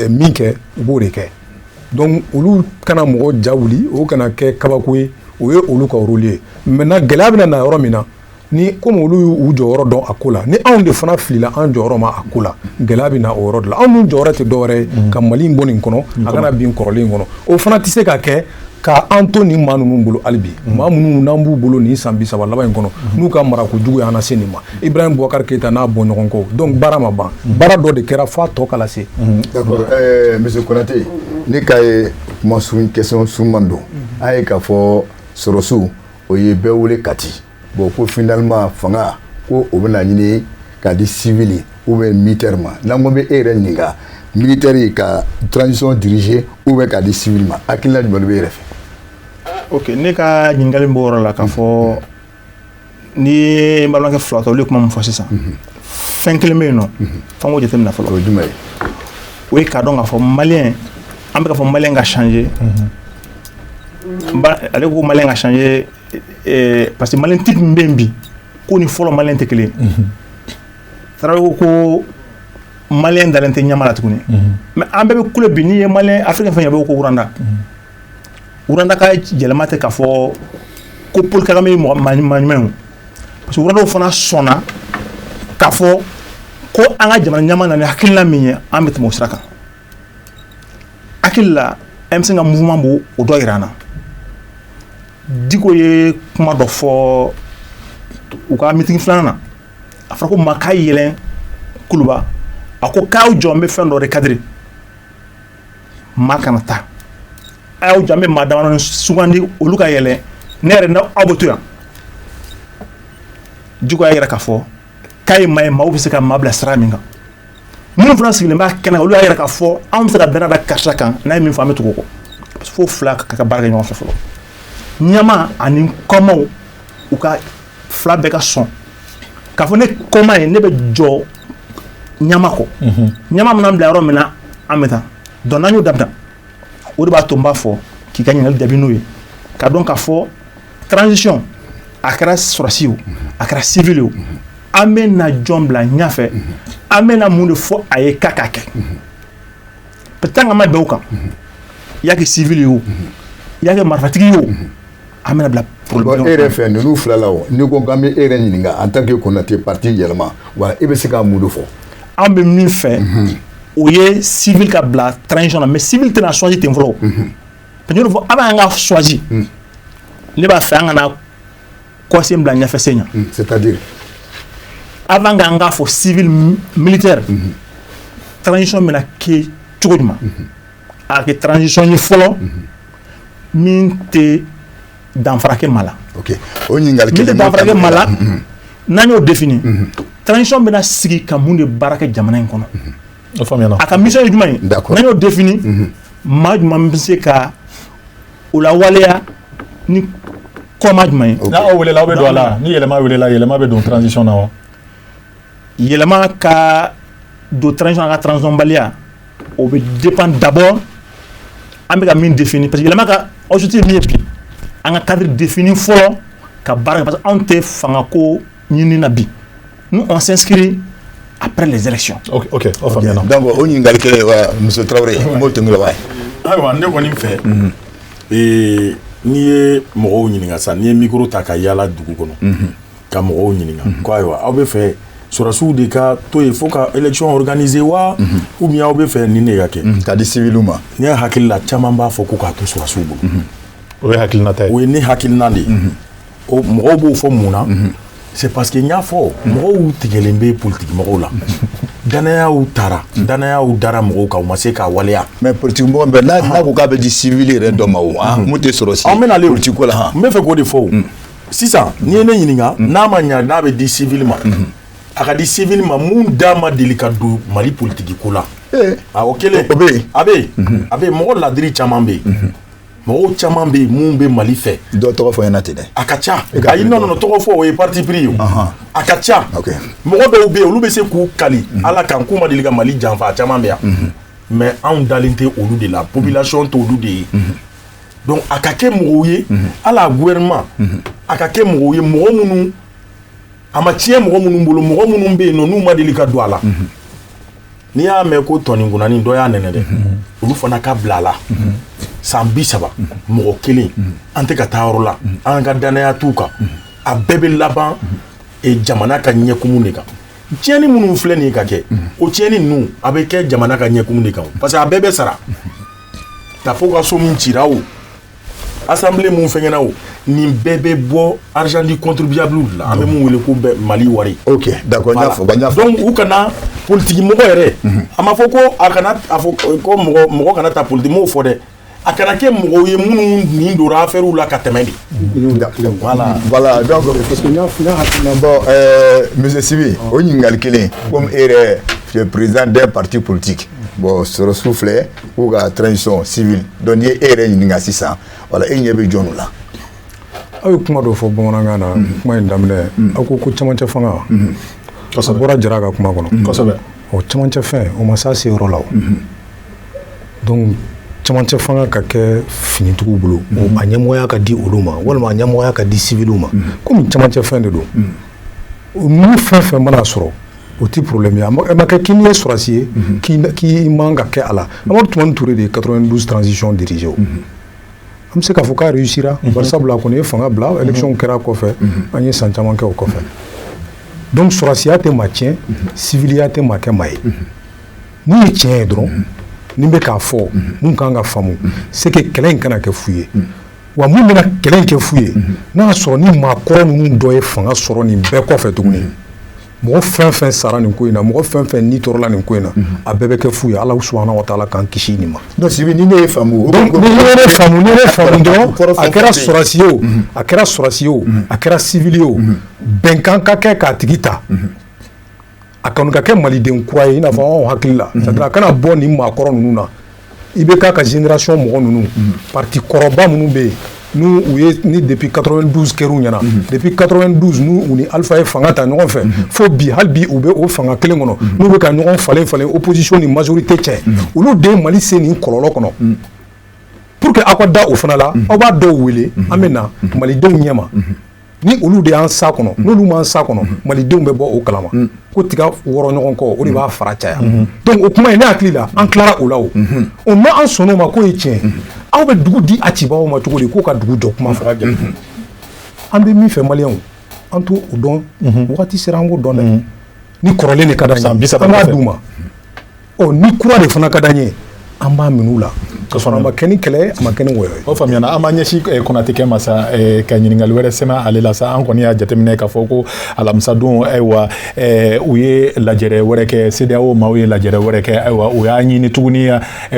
min kɛ u b'o de kɛ donc olu kana mɔgɔ ja wuli o kana kɛ kabako ye o ye olu ka rôle ye maintenant gɛlɛya bɛna na yɔrɔ min na ni komi olu y'u jɔyɔrɔ dɔn a ko la ni anw de fana filila an jɔyɔrɔ ma a ko la gɛlɛya bɛ na o yɔrɔ de la anw dun jɔyɔrɔ tɛ dɔwɛrɛ ye ka Mali in bɔ nin kɔnɔ a kana bin kɔrɔlen kɔnɔ o fana tɛ se ka kɛ K' an to nin maa ninnu bolo hali bi maa minnu n'an b'u bolo nin san bi saba laban in kɔnɔ n'u ka marako jugu y'an lase nin ma Ibrahim Boubacar Keïta n'a bɔɲɔgɔnkow donc baara ma ban baara dɔ de kɛra f'a tɔ ka lase
d'accord monsieur Konate ne ka ye kuma su question suruman don a ye k'a fɔ sɔrɔsiw o ye bɛɛ wele Kati bon ko finalement fanga ko o bɛna ɲini k'a di civil ou bien militaire ma n'an ko bɛ e yɛrɛ ɲininka militaire ka transition diriger ou bien k'a di civil ma hakilina jumɛn bɛ e yɛrɛ fɛ. ok ne
ka ɲininkali b'o yɔrɔ la k'a fɔ n'i ye n balimakɛ fila ta olu ye kuma min fɔ sisan mhm. fɛn kelen bɛ yen nɔ mhm. f'an k'o jateminɛ fɔlɔ o ye jumɛn ye
o ye k'a
dɔn k'a fɔ maliyɛn an bɛ k'a fɔ maliyɛn ka changer mhm. ale ko maliyɛn ka changer parce que maliyɛn type min bɛ bi k'o ni fɔlɔ maliyɛn tɛ kelen ye Tarawele ko ko maliyɛn dalen tɛ ɲɛmaa la tuguni mais an bɛɛ bɛ kule bi n'i ye maliyɛn africain fɛn fɛn bɛ ko Rwanda Rwanda ka yɛlɛma tɛ k'a fɔ ko Paul Kagame mɔgɔ maa ɲuman parce que Rwandaw fana sɔnna k'a fɔ ko an ka jamana ɲɛmaa nana ni hakilina min ye an bɛ tɛmɛ o sira kan hakili la M5 ka mouvement b'o dɔ jira an na Diko ye kuma dɔ fɔ u ka meeting filanan na a fɔra ko maa ka yɛlɛ Kuluba a ko k'aw jɔ an bɛ fɛn dɔ de cadrer maa kana taa a y'aw jɔ an bɛ maa damadɔni sugandi olu ka yɛlɛ ne yɛrɛ n'aw bɛ to yan Diko y'a jira k'a fɔ k'a ye maa ye maaw bɛ se ka maa bila sira min kan minnu fana sigilen b'a kɛnɛ kan olu y'a jira k'a fɔ anw bɛ se ka dannaya da karisa kan n'a ye min fɔ an bɛ tugu o kɔ parce que fo fila ka ka baara kɛ ɲɔgɔn fɛ fɔlɔ ɲɛmaa ani kɔmaaw u ka fila bɛɛ ka sɔn k'a fɔ ne kɔmaa ye ne bɛ jɔ ɲɛmaa kɔ ɲɛmaa mana an bila yɔrɔ min na an bɛ taa donc n'an y'o dabila o de b'a to n b'a fɔ k'i ka ɲininkali jaabi n'o ye k'a dɔn k'a fɔ Transition a kɛra sɔrɔsi o a kɛra civil o an bɛ na jɔn bila ɲɛfɛ an bɛna mun de fɔ a ye k'a k'a kɛ tant k'an ma bɛn o kan i y'a kɛ civil ye o i y'a kɛ marifatigi ye o an bɛna bila e yɛrɛ fɛ
ninnu fila la n'i ko an bɛ e yɛrɛ ɲininka en tant que Konate parti Yɛlɛma wa e bɛ se ka mun de fɔ an bɛ min fɛ
o ye civil ka bila transition na mais civil tɛna choisi ten fɔlɔ fo avant k'an ka choisi hmm. ne b'a fɛ an kana kɔsen bila ɲɛfɛsen ɲɛ hmm, c'est-à-dire avant k'an k'a fɔ civil militaire hmm. transition bɛna kɛ cogo jumɛn a kɛ transition ye fɔlɔ min tɛ danfara kɛ maa la ok o ɲininkali
kelen min tɛ danfara kɛ maa la
n'an y'o défini transition bɛna sigi ka mun de baara kɛ jamana in kɔnɔ A
ka mission ye jumɛn
ye n'an y'o défini maa jumɛn bɛ se ka o lawaleya ni kɔmaa jumɛn ye n'aw weelela aw bɛ don a la
ni Yɛlɛma weelela Yɛlɛma bɛ don transition na wa
Yɛlɛma ka don transition na a ka transitionbaliya o bɛ dépend d'abord an bɛ ka min défini parce que Yɛlɛma ka objectif min ye bi an ka cadre défini fɔlɔ ka baara parce que anw tɛ fanga ko ɲini na bi nous on s'inscrit après les élections ok ok o faamuyana
donc o ɲininkali
kelen wa monsieur Traoré n b'o tɛmɛ la wa ayiwa ne kɔni
fɛ mhm. ee n'i ye mɔgɔw ɲininka sa n'i ye micro ta ka yaala dugu kɔnɔ mhm. ka mɔgɔw ɲininka mhm. ko ayiwa aw b'a fɛ sɔrɔsiw de ka to yen fo ka élection organiser wa ou bien aw b'a fɛ nin de ka kɛ k'a di civiliw ma
ne hakili la caman
b'a fɔ ko k'a to sɔrɔsiw bolo o ye
hakilinata ye o ye ne hakilina de
ye o mɔgɔw b'o fɔ mun na c'est parce que n y'a fɔ mɔgɔw tigɛlen bɛ politiki mɔgɔw la dannayaw taara dannayaw dara mɔgɔw kan u ma se k'a waleya mais politiki mɔgɔ bɛɛ
n'a n'a ko k'a bɛ di civil yɛrɛ dɔ ma o mun tɛ sɔrɔsi an bɛna ale politiki ko
la
han
n bɛ fɛ
k'o de fɔ
o sisan n'i ye ne ɲininka n'a ma ɲa n'a bɛ di civil ma a ka di civil ma mun da ma deli ka don mali politiki ko la a o kelen o bɛ yen a bɛ yen
a bɛ yen
mɔgɔ ladiri caman bɛ yen mɔgɔw caman bɛ yen mun bɛ mali fɛ dɔ tɔgɔ fɔ ɲɛna ten
dɛ a ka ca ayi non
non tɔgɔ fɔ o ye parti pris ye a ka ca mɔgɔ dɔw bɛ yen olu bɛ se k'u kali mhm. ala kan k'u ma deli ka mali janfa a caman bɛ yan mhm. mais anw dalen tɛ olu de la mhm. population t'olu de ye donc a ka kɛ mɔgɔw ye a la gouvernement a ka kɛ mɔgɔw ye mɔgɔ minnu a ma tiɲɛ mɔgɔ minnu bolo mɔgɔ minnu bɛ yen nɔ n'u ma deli ka don a la n'i y'a mɛn ko tɔninkunani dɔ y'a nɛnɛ dɛ olu fana ka bila a la san bi saba mɔgɔ kelen an tɛ ka taa yɔrɔ la an ka dannaya t'u kan a bɛɛ bɛ laban e, jamana ka ɲɛkumu de kan tiɲɛni minnu filɛ nin ka kɛ o tiɲɛni ninnu a bɛ kɛ jamana ka ɲɛkumu de kan parce que a bɛɛ bɛ sara Tapo ka so min cira o Assemblée mun fɛnkɛna o nin bɛɛ bɛ bɔ argent du contribuable la an bɛ mun wele ko mali wari ok
d'accord donc u kana
politigimɔgɔ yɛrɛ a ma fɔ ko a kana mɔgɔ kana ta politigimɔgɔ fɔ dɛ a kana kɛ mɔgɔw ye minnu nin dora affairew la ka
tɛmɛ dɛ monsieur Sibi o ɲininkali kelen comme e yɛrɛ tu es président d'un parti politique bon sɔrɔsiw filɛ k'u ka transition civile donc n'i ye e yɛrɛ ɲininka sisan voilà e ɲɛ bɛ jɔnw la
aw ye kuma dɔ fɔ bamanankan na mhm. kuma in daminɛ mhm. aw ko ko camancɛ fanga mhm. a bɔra jara ka kuma kɔnɔ kosɛbɛ ɔ camancɛ
fɛn
o ma s'a se yɔrɔ la o donc camancɛ fanga ka kɛ finitigiw bolo a ɲɛmɔgɔya ka di olu ma walima a ɲɛmɔgɔya ka di siviliw ma komi camancɛ fɛn de don ni fɛn fɛn mana sɔrɔ o tɛ problème ye a ma kɛ k'i ye sɔrɔsi ye k'i man ka kɛ a la Amadu Tumani Ture de ye 92 transition dirigé o an bɛ se k'a fɔ k'a réussira bari sabula a kɔni ye fanga bila élection kɛra kɔfɛ an ye san caman kɛ o kɔfɛ donc sɔrɔsiya tɛ maa tiɲɛ civiliya tɛ maa kɛ maa ye mun ye tiɲɛ ye dɔrɔn ne bɛ k'a fɔ mun kan ka faamu c'est que kɛlɛ in kana kɛ fu ye wa min bɛna kɛlɛ in kɛ fu ye n'a y'a sɔrɔ ni maa kɔrɔ ninnu dɔ ye fanga sɔrɔ nin bɛɛ kɔfɛ tuguni mɔgɔ fɛn fɛn sara nin ko in na mɔgɔ fɛn fɛn ni tɔɔrɔla nin ko in na a bɛɛ bɛ kɛ fu ye ala subahana wa taala k'an kisi nin ma ne
ye ne
ne faamu dɔrɔn a kɛra sɔrɔsi ye o a kɛra sɔrɔsi ye o a kɛra sivili ye o bɛnkan ka kɛ k'a tigi ta a kan ka kɛ maliden kura ye i n'a fɔ anw hakili la c'est a kana bɔ nin maakɔrɔ ninnu na IBK ka génération mɔgɔ ninnu parti kɔrɔba minnu bɛ yen n'u ye ni depuis 92 kɛr'u ɲɛna depuis 92 n'u ni Alpha ye fanga ta ɲɔgɔn fɛ fo bi hali bi u bɛ o fanga kelen kɔnɔ n'u bɛ ka ɲɔgɔn falen falen opposition ni majorité cɛ olu de ye Mali se nin kɔlɔlɔ kɔnɔ pour que aw ka da o fana la aw b'a dɔw wele an bɛ na malidenw ɲɛma ni olu de y'an s'a kɔnɔ n'olu m'an s'a kɔnɔ malidenw bɛ bɔ o kalama ko tiga wɔrɔ ɲɔgɔn kɔ o de b'a fara caya donc o kuma ye ne hakili la an tilara o la o n'an sɔnna o ma k'o ye tiɲɛ aw bɛ dugu di a cibaaw ma cogo di k'u ka dugu jɔ kuma fɔ an bɛ min fɛ maliyɛnw an t'o dɔn waati sera an k'o dɔn dɛ ni kɔrɔlen de ka d'an ye an b'a d'u ma ɔ ni kura de fana ka d'an ye an b'a min'u la ka sɔrɔ a ma kɛ ni kɛlɛ a ma kɛ ni wɔyɔ ye o faamuyana an b'a ɲɛsin eh,
konate kɛ ma sa eh, ka ɲininkali wɛrɛ sɛmɛ ale la sa an kɔni y'a jateminɛ k'a fɔ ko alamisadon ayiwa eh, u ye lajɛrɛ wɛrɛ kɛ CEDEAO maaw ye lajɛrɛ wɛrɛ kɛ ayiwa u y'a ɲini tuguni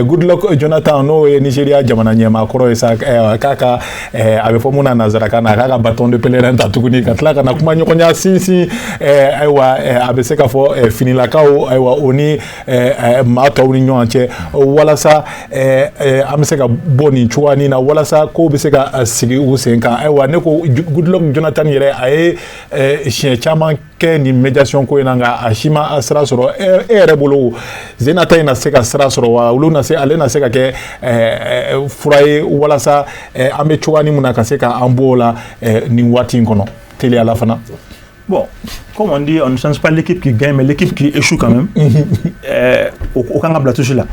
goodluck jonathan n'o ye nigeria jamana ɲɛmaa kɔrɔ ye sa k'a ka eh, a bɛ fɔ mun na nanzarakan na a k'a ka bâton de pèlerin ta tuguni ka tila ka na kuma ɲɔgɔnya sinsin eh, ayiwa eh, a bɛ se k'a fɔ eh, finilakaw ayiwa o ni eh, eh, maa tɔw ni ɲɔgɔn cɛ walasa eh, eh, an bɛ se ka bɔ nin cogoya nin na walasa kow bɛ se ka eh, sigi u sen kan ayiwa ne ko goodluck jonathan yɛrɛ a ye eh, siɲɛ caman kɛ nin médiation ko in na nka a si ma a sira sɔrɔ e yɛrɛ bolo sen na ta in na se ka sira sɔrɔ wa olu na se ale na se ka kɛ fura ye walasa an bɛ cogoya nin min na ka se ka an bɔ o la nin waati in kɔnɔ teliya la fana
bon comme on dit on ne change pas l'équipe qui gagne mais l'équipe qui échoue quand même o kan ka bila touche la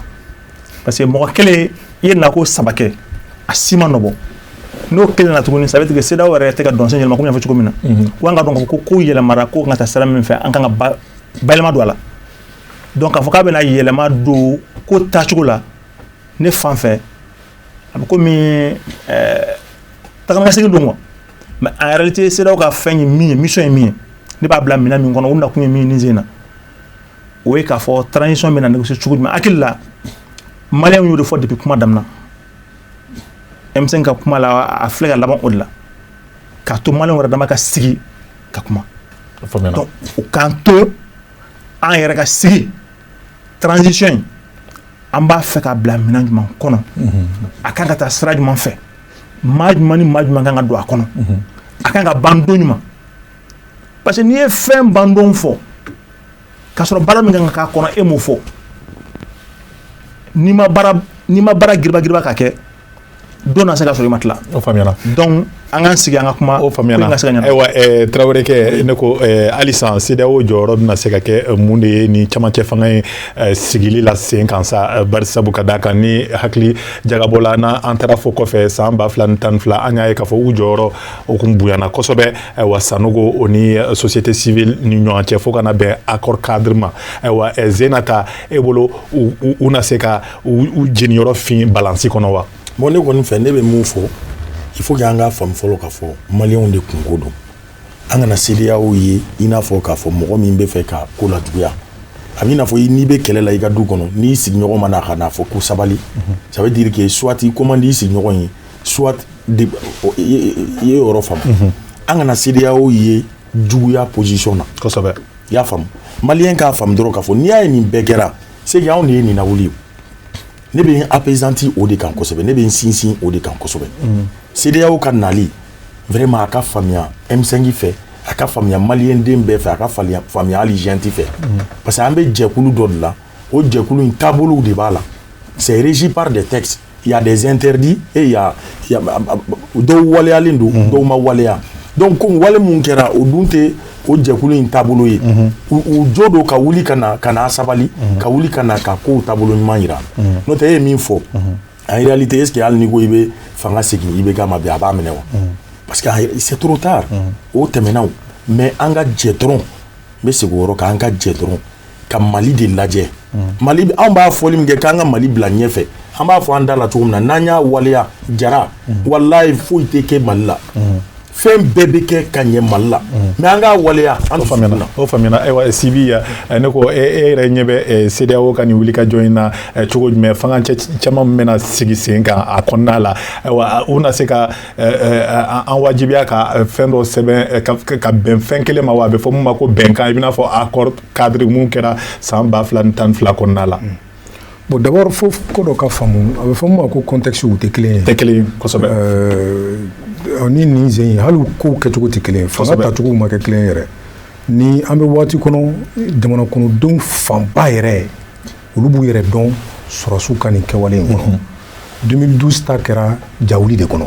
parce que mɔgɔ kelen i ye nako saba kɛ a si ma nɔ bɔ n'o kelen na tuguni ça veut dire que CEDEAO yɛrɛ tɛ ka dɔnsen yɛlɛma komi n y'a fɔ cogo min na ko an ka dɔn k'a fɔ ko kow yɛlɛmara ko kan ka taa sira min fɛ an kan ka ba bayɛlɛma don a la donc k'a fɔ k'a bɛna yɛlɛma don ko taacogo la ne fan fɛ a bɛ komi eh, tagamasegin don quoi mais en réalité CEDEAO ka fɛn ye min ye mission ye min ye ne b'a bila minɛn min kɔnɔ u nakun ye min ye nin sen in na o ye k'a fɔ transition bɛna négocier cogo jumɛn hakili la maliyɛnw y'o de fɔ depuis kuma daminɛ M5 ka kuma la a filɛ ka laban o de la k'a to maliyɛnw yɛrɛ dama ka sigi ka kuma donc u k'an to an yɛrɛ ka sigi transition in an b'a fɛ ka bila minɛn jumɛn kɔnɔ a kan ka taa sira jumɛn fɛ maa jumɛn ni maa jumɛn kan ka don a kɔnɔ a kan ka ban don jumɛn parce que n'i ye fɛn ban don fɔ ka sɔrɔ baara min kan ka k'a kɔnɔ e m'o fɔ n'i ma baara n'i ma baara giribagiriba ka kɛ don na se ka sɔrɔ i ma tila o faamuyara donc
an k'an
sigi an ka kuma o faamuyara ka se ka ɲɛnabɔ
ayiwa ɛɛ tarawele kɛ ne ko ɛɛ halisa CEDEAO jɔyɔrɔ bɛna se ka kɛ eh, mun de ye nin camancɛ fanga in ɛɛ eh, sigili la sen kan sa eh, bari sabu ka d'a kan ni hakili jagabɔla n'an taara fo kɔfɛ san ba fila ni tan ni fila an y'a ye k'a fɔ u jɔyɔrɔ o kun bonyana kosɛbɛ ayiwa sanogo o ni eh, société civile ni ɲɔgɔn cɛ fo ka na bɛn accord cadre ma ayiwa eh, zenata e bolo u na se ka u jeniyɔrɔ fin balansi kɔnɔ wa bon ne kɔni fɛ ne bɛ
mun fɔ il faut que an k'a faamu fɔlɔ k'a fɔ maliyɛnw de kunko don an kana CEDEAO ye i n'a fɔ k'a fɔ mɔgɔ min bɛ fɛ ka ko lajuguya a b'i n'a fɔ n'i bɛ kɛlɛ la i ka du kɔnɔ n'i sigiɲɔgɔn ma na ka n'a fɔ ko sabali ça veut dire que soit i ko man di i sigiɲɔgɔn ye soit i ye yɔrɔ faamu an kana CEDEAO ye juguya position na kosɛbɛ i y'a faamu maliyɛn k'a faamu dɔrɔn k'a fɔ n'i y'a ye nin bɛɛ kɛra c'est que anw de ye nin lawuli ye ne bɛ n appesanti o de kan kosɛbɛ ne bɛ n sinsin o de kan kosɛbɛ CEDEAO ka nali vraiment a ka faamuya M5 fɛ a ka faamuya maliden bɛɛ fɛ a ka faamuya hali junte fɛ parce que an bɛ jɛkulu dɔ de la o jɛkulu in taabolow de b'a la c'est régi par des textes y a des interdits et dɔw waleyalen don dɔw ma waleya donc ko wale min kɛra o dun tɛ o jɛkulu in taabolo ye u jo don ka wuli ka na ka sabali ka wuli ka na ka kow taabolo ɲuman jira n'o tɛ e ye min fɔ en réalité est-ce que hali n'i ko i bɛ fanga segin IBK ma bi a b'a minɛ wa parce que c'est trop tard o tɛmɛna mais an ka jɛ dɔrɔn n bɛ segin o kan an ka jɛ dɔrɔn ka mali de lajɛ mali anw b'a fɔli min kɛ k'an ka mali bila ɲɛ fɛ an b'a fɔ an da la cogo min na n'an y'a waleya jara walayi foyi tɛ kɛ mali la fɛn bɛɛ bɛ kɛ ka ɲɛ mali la mais an k'a waleya o faamuyana
ayiwa sibi yan ne ko e, e yɛrɛ ɲɛ bɛ CEDEAO ka nin wulikajɔ in na cogo jumɛn fanga cɛ caman bɛna sigi sen kan a kɔnɔna la ayiwa u na se ka an wajibiya ka fɛn dɔ sɛbɛn ka bɛn fɛn kelen ma wa a bɛ fɔ min ma ko bɛnkan i bɛna fɔ accord cadre min kɛra san ba fila ni tan ni fila kɔnɔna la bon
d'abord fo ko dɔ ka faamu a bɛ fɔ min ma ko contextew tɛ kelen ye tɛ
kelen
kosɛbɛ ni nin sen ye hali kow kɛcogo tɛ kelen fanga tacogo ma kɛ kelen yɛrɛ ni an bɛ waati kɔnɔ jamana kɔnɔdenw fanba yɛrɛ ye olu b'u yɛrɛ dɔn sɔrɔsiw ka nin kɛwale in kɔnɔ 2012 ta kɛra jawuli de kɔnɔ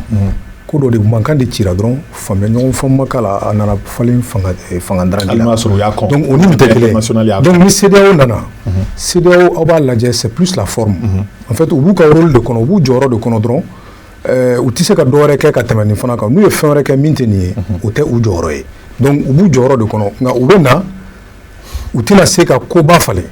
ko dɔ de mankan de cira dɔrɔn faamuya ɲɔgɔn faamu ma k'a la a nana falen fanga eh, fanga dafiri la hali n'a sɔrɔ u y'a kɔn donc o ni nin tɛ kelen international y'a donc ni CEDEAO nana CEDEAO aw b'a lajɛ c'est plus la forme en fait u b'u ka rôle de kɔnɔ u b'u jɔyɔrɔ de kɔnɔ dɔrɔn eh, u tɛ se ka dɔwɛrɛ kɛ ka tɛmɛ nin fana kan n'u ye fɛn wɛrɛ kɛ min tɛ nin ye o tɛ u jɔyɔrɔ ye donc u b'u jɔyɔrɔ de kɔnɔ nka u bɛ na u tɛna se ka koba falen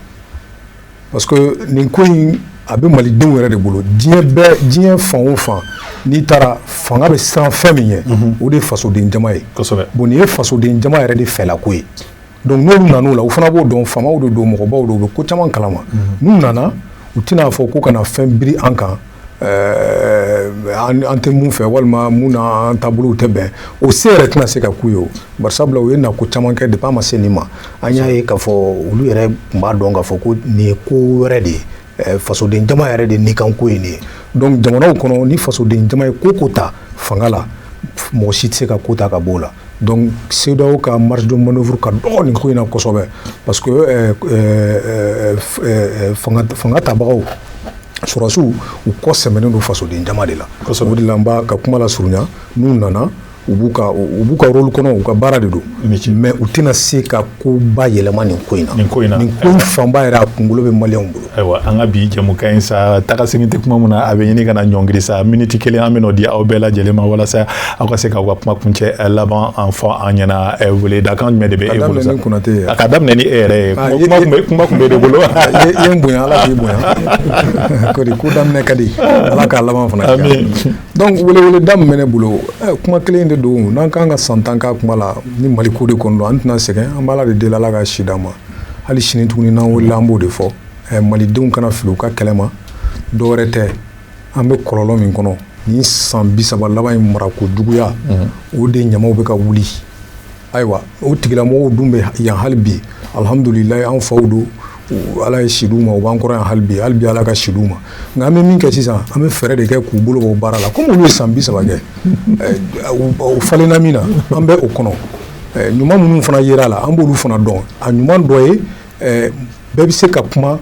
parce que nin ko in a bɛ malidenw yɛrɛ de bolo diɲɛ bɛɛ diɲɛ fan o fan n'i taara fanga bɛ siran fɛn min ɲɛ mhm. o de ye fasoden jama ye bon nin ye fasoden jama yɛrɛ de fɛlako ye donc n'olu nan'o la u fana b'o dɔn faamaw de don mɔgɔbaw don u bɛ ko caman kalama mhm. n'u nana u tɛn'a fɔ ko ka na fɛn biri an kan an tɛ mun fɛ walima mun n'an taabolow tɛ bɛn o se yɛrɛ tɛna se ka k'u ye o bari sabula u ye nako caman kɛ depuis an ma se nin ma an y'a ye k'a fɔ olu yɛrɛ tun b'a dɔn k'a fɔ ko nin ye ko wɛrɛ de ye fasoden jama yɛrɛ de ni kan ko ye nin ye donc jamanaw kɔnɔ ni fasoden jama ye ko o ko ta fanga la mɔgɔ si tɛ se ka ko ta ka bɔ o la donc CEDEAO ka marge de manoeuvre ka dɔgɔ nin ko in na kosɛbɛ parce que euh, euh, euh, fanga fanga tabagaw sɔrɔsiw u kɔ sɛmɛnen don fasoden jama de la o de la n b'a ka kuma lasurunya n'u nana u b'u ka u b'u ka rôle kɔnɔ u ka baara de don mais u tɛna se ka koba yɛlɛma nin ko in na nin ko in na nin ko fanba yɛrɛ a kunkolo bɛ maliyɛnw bolo ayiwa an ka bi
jɛmukan in sa taga segin tɛ kuma min na a bɛ ɲini ka na ɲɔngiri sa miniti kelen an bɛn'o di aw bɛɛ lajɛlen ma walasa aw ka se k'aw ka kuma kuncɛ eh, laban in fɔ an ɲɛna eh, weledakan jumɛn de bɛ e bolo sa a ka daminɛ ni e yɛrɛ ye ah, kuma tun b'e de bolo i ye n bonya
ala k'i bonya ko de ko daminɛ ka di ala k'a laban fana kɛ donc weleweleda min bɛ ne bolo eh, kuma kelen de don n'an kan ka san tan k'a kuma la ni mali ko de kɔnɔ don an tɛna sɛgɛn an b'ala de deli ala ka si d'an ma hali sini tuguni n'an wulila an b'o de fɔ malidenw kana fili u ka kɛlɛ ma dɔwɛrɛ tɛ an bɛ kɔlɔlɔ min kɔnɔ nin san bi saba laban in mara ko juguya mhm. o de ɲamaw bɛ ka wuli ayiwa o tigilamɔgɔw dun bɛ yan hali bi alihamdulilayi an faw don ala ye si d'u ma u b'an kɔrɔ yan hali bi hali bi ala ka si d'u ma nka an bɛ min kɛ sisan an bɛ fɛɛrɛ de kɛ k'u bolo bɔ baara la komi olu ye san bi saba kɛ u falenna min na an bɛ o kɔnɔ ɲuman minnu fana yer'a la an b'olu fana dɔn a ɲuman dɔ ye bɛɛ bɛ se ka kuma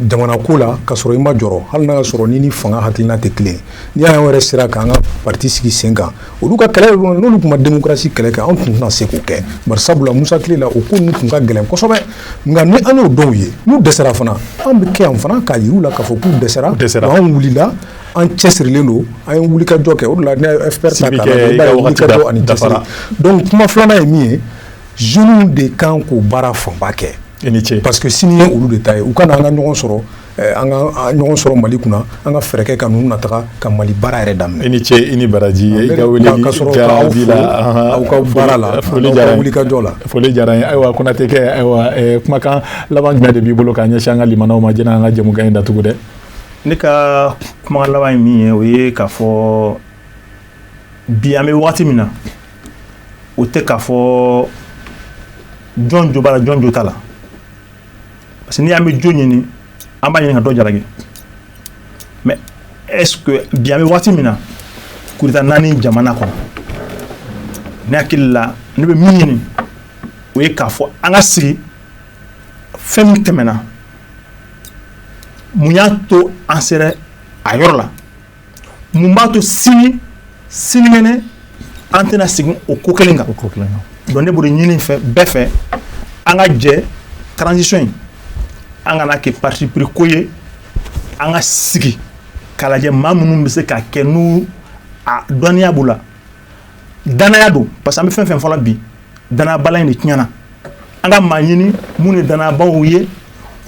jamana ko la ka sɔrɔ i ma jɔrɔ hali n'a sɔrɔ i ni fanga hakilina tɛ kelen ni an yɛrɛ sera k'an ka pati sigi sen kan olu ka kɛlɛ n'olu tun ma démocratie kɛlɛ kɛ an tun tɛna se k'o kɛ bari sabula Musa tile la o ko ninnu tun ka gɛlɛn kosɛbɛ nka ni an y'o dɔw ye n'u dɛsɛra fana an bɛ kɛ yan fana k'a yir'u la k'a fɔ k'u dɛsɛra anw wulila an cɛsirilen don an ye wulikajɔ kɛ o de la n'i y'a FPR ta k'a lajɛ i b'a ye wulikajɔ ani cɛsiri donc kuma filanan ye min ye jeunes de kan k'o baara fanba kɛ i ni ce parce que sini ye olu de ta ye u ka na an ka ɲɔgɔn sɔrɔ Eh, an ka ɲɔgɔn sɔrɔ mali kunna an ka fɛɛrɛ kɛ ka ninnu nataga ka mali baara yɛrɛ daminɛ i ni ce i ni baraji i ka weleli jaabi la aw ka baara la foli diyara wulikajɔ la foli diyara n ye ayiwa konate kɛ ayiwa eh, kumakan laban jumɛn de b'i bolo k'a ɲɛsin an ka limanaw ma janni an ka jɛmukan in datugu dɛ ne
ka kumakan laban ye min ye o ye k'a fɔ bi an bɛ wagati min na o tɛ k'a fɔ jɔn jo b'a la jɔn jo t'a la parce que ni an bɛ jo ɲini an b'a ɲini ka dɔ jalaki mais est ce que bi an bɛ wagati min na coup d'État naani jamana kɔnɔ ne hakili la ne bɛ min ɲini o ye k'a fɔ an ka sigi fɛn min tɛmɛna mun y'a to an sera a yɔrɔ la mun b'a to sini sinikɛnɛ an tɛna segin o ko kelen kan donc ne b'o de ɲini fɛ bɛɛ fɛ an ka jɛ transition in an kana kɛ parti pris ko ye an ka sigi k'a lajɛ maa minnu bɛ se k'a kɛ n'u a dɔnniya b'u la danaya don parce que an bɛ fɛn fɛn fɔla bi danayabala in de tiɲɛna an ka maa ɲini minnu ye danayabaw ye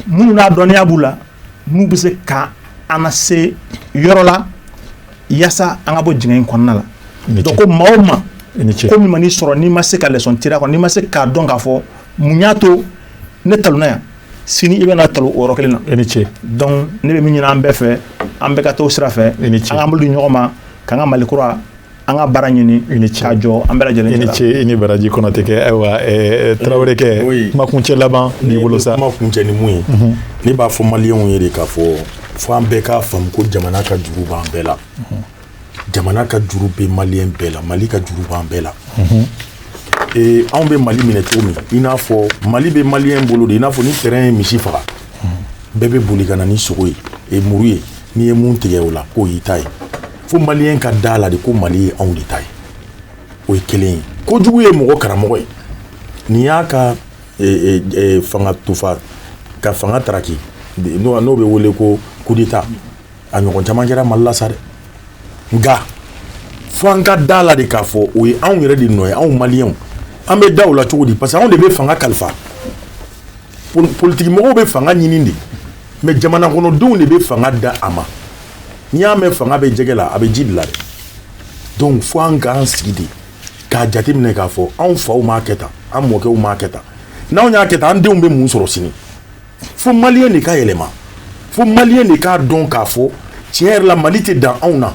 minnu n'a dɔnniya b'u la n'u bɛ se ka an nase yɔrɔ la yaasa an ka bɔ dingɛ in kɔnɔna la donc ko maa o maa ko min man'i sɔrɔ n'i ma se ka leçon tirer a kɔnɔ n'i ma se k'a dɔn k'a fɔ mun y'a to ne talonna yan sini i bɛna talon o yɔrɔ kelen na i ni ce donc ne bɛ min ɲini an bɛɛ fɛ an bɛɛ ka t'o sira fɛ i ni ce an k'an bolo di ɲɔgɔn ma k'an ka mali kura an ka baara ɲini i ni ce k'a jɔ an bɛɛ lajɛlen i ni ce i ni baraji konate kɛ ayiwa tarawele kɛ kumakuncɛ laban b'i bolo sa kumakuncɛ ni mun ye mhm.
ne b'a fɔ maliyɛnw ye de k'a fɔ fo an bɛɛ k'a faamu ko jamana ka juru b'an bɛɛ la mhm. jamana ka juru bɛ maliyɛn bɛɛ la mali ka juru b'an bɛɛ la mhm. anw bɛ mali minɛ cogo min i n'a fɔ mali bɛ maliyɛn bolo de i n'a fɔ ni train ye misi faga bɛɛ bɛ boli ka na ni sogo ye e muru ye n'i ye min tigɛ o la k'o y'i ta ye fo maliyɛn ka da la de ko mali ye anw de ta ye o ye kelen ye kojugu ye mɔgɔ karamɔgɔ ye nin y'a ka e, e, e, fanga tufa ka fanga taraki n'o bɛ wele ko coup d'État a ɲɔgɔn caman kɛra mali la sa dɛ nka fo an ka da la de k'a fɔ o ye anw yɛrɛ de nɔ ye anw maliyɛnw an bɛ da o la cogo di parce que anw de bɛ fanga kalifa politiki mɔgɔw bɛ fanga ɲini de mais jamana kɔnɔdenw de bɛ fanga da a ma n'i y'a mɛn fanga bɛ jɛgɛ la a bɛ ji de la dɛ donc fo an k'an sigi de k'a jateminɛ k'a fɔ anw faw m'a kɛ tan an mɔkɛw m'a kɛ tan n'anw y'a kɛ tan an denw bɛ mun sɔrɔ sini fo maliyɛn de ka yɛlɛma fo maliyɛn de k'a dɔn k'a fɔ tiɲɛ yɛrɛ la mali tɛ dan anw na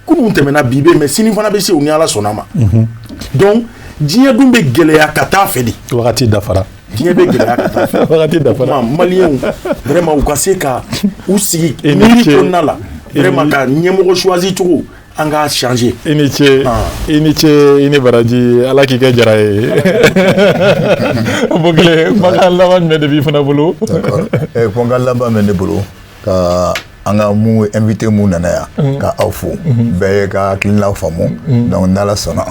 kunun tɛmɛna bi bɛ mais sini fana bɛ se o ni ala sɔnna ma mhm. donc diɲɛ dun bɛ gɛlɛya ka taa fɛ de wagati dafara
diɲɛ bɛ gɛlɛya ka taa
fɛ wagati dafara maliyɛnw vraiment u ka se ka u sigi miiri kɔnɔna la vraiment ka ɲɛmɔgɔ choisi cogo an k'a changer i ni
ce ah. i ni ce i ni baraji ala k'i kɛ jara ye bokile kumakan laban jumɛn
de b'i
fana bolo eh,
kumakan
laban
bɛ ne
bolo ka an
ka mun invité mun nana yan mhm. ka aw fo mhm. bɛɛ ye ka hakilinaw faamu mhm. donc n'ala sɔnna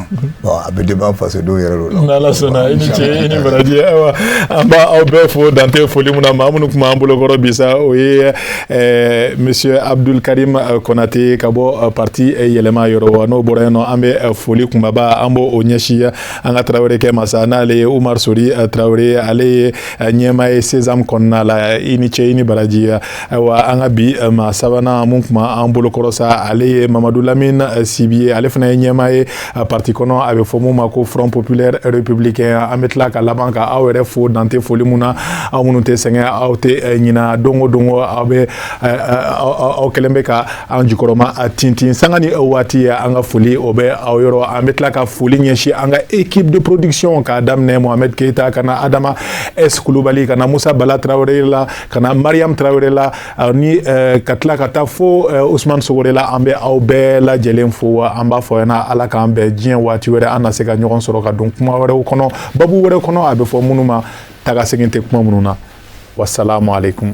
bon a bɛ débat fasodenw yɛrɛ de la n'ala sɔnna i ni ce
i ni baraji ayiwa an b'aw bɛɛ fo dan tɛ foli mun na maa minnu tun b'an bolokɔrɔ bi sa o ye eh, monsieur abdul karim eh, konate ka bɔ eh, parti yɛlɛma yɔrɔ wa n'o bɔra yen nɔ an bɛ foli kunbaba an b'o ɲɛsin an ka tarawele kɛ ma sa n'ale ye umar sori tarawele ale ye ɲɛmaa ye sesam kɔnɔna la i ni ce i ni baraji ayiwa an ka bi eh, maa sabanan mun tun b'an bolokɔrɔ sa ale ye mamadu lamine eh, sibi ye ale fana ye ɲɛmaa ye eh, parti kɔnɔ a bɛ fɔ mun ma ko front populaire républicain an bɛ tila ka laban ka aw yɛrɛ fo dan tɛ foli mun na aw minnu tɛ sɛgɛn aw tɛ ɲina don o don aw bɛ aw kɛlen bɛ ka an jukɔrɔma tintin sanga ni waati an ka foli o bɛ aw yɔrɔ an bɛ tila ka foli ɲɛsin an ka équipe de production k'a daminɛ mohamed keyita ka na adama s kulubali ka na musa bala tarawele la ka na mariam tarawele la ani ka tila ka taa fo usman sogore la an bɛ aw bɛɛ lajɛlen fo an b'a fɔ yana ala k'an bɛɛ diɲɛ waati wɛrɛ an na se ka ɲɔgɔn sɔrɔ ka don kuma wɛrɛw kɔnɔ babu wɛrɛ kɔnɔ a bɛ fɔ minnu ma taga segin tɛ kuma minnu na wasalamu aleykum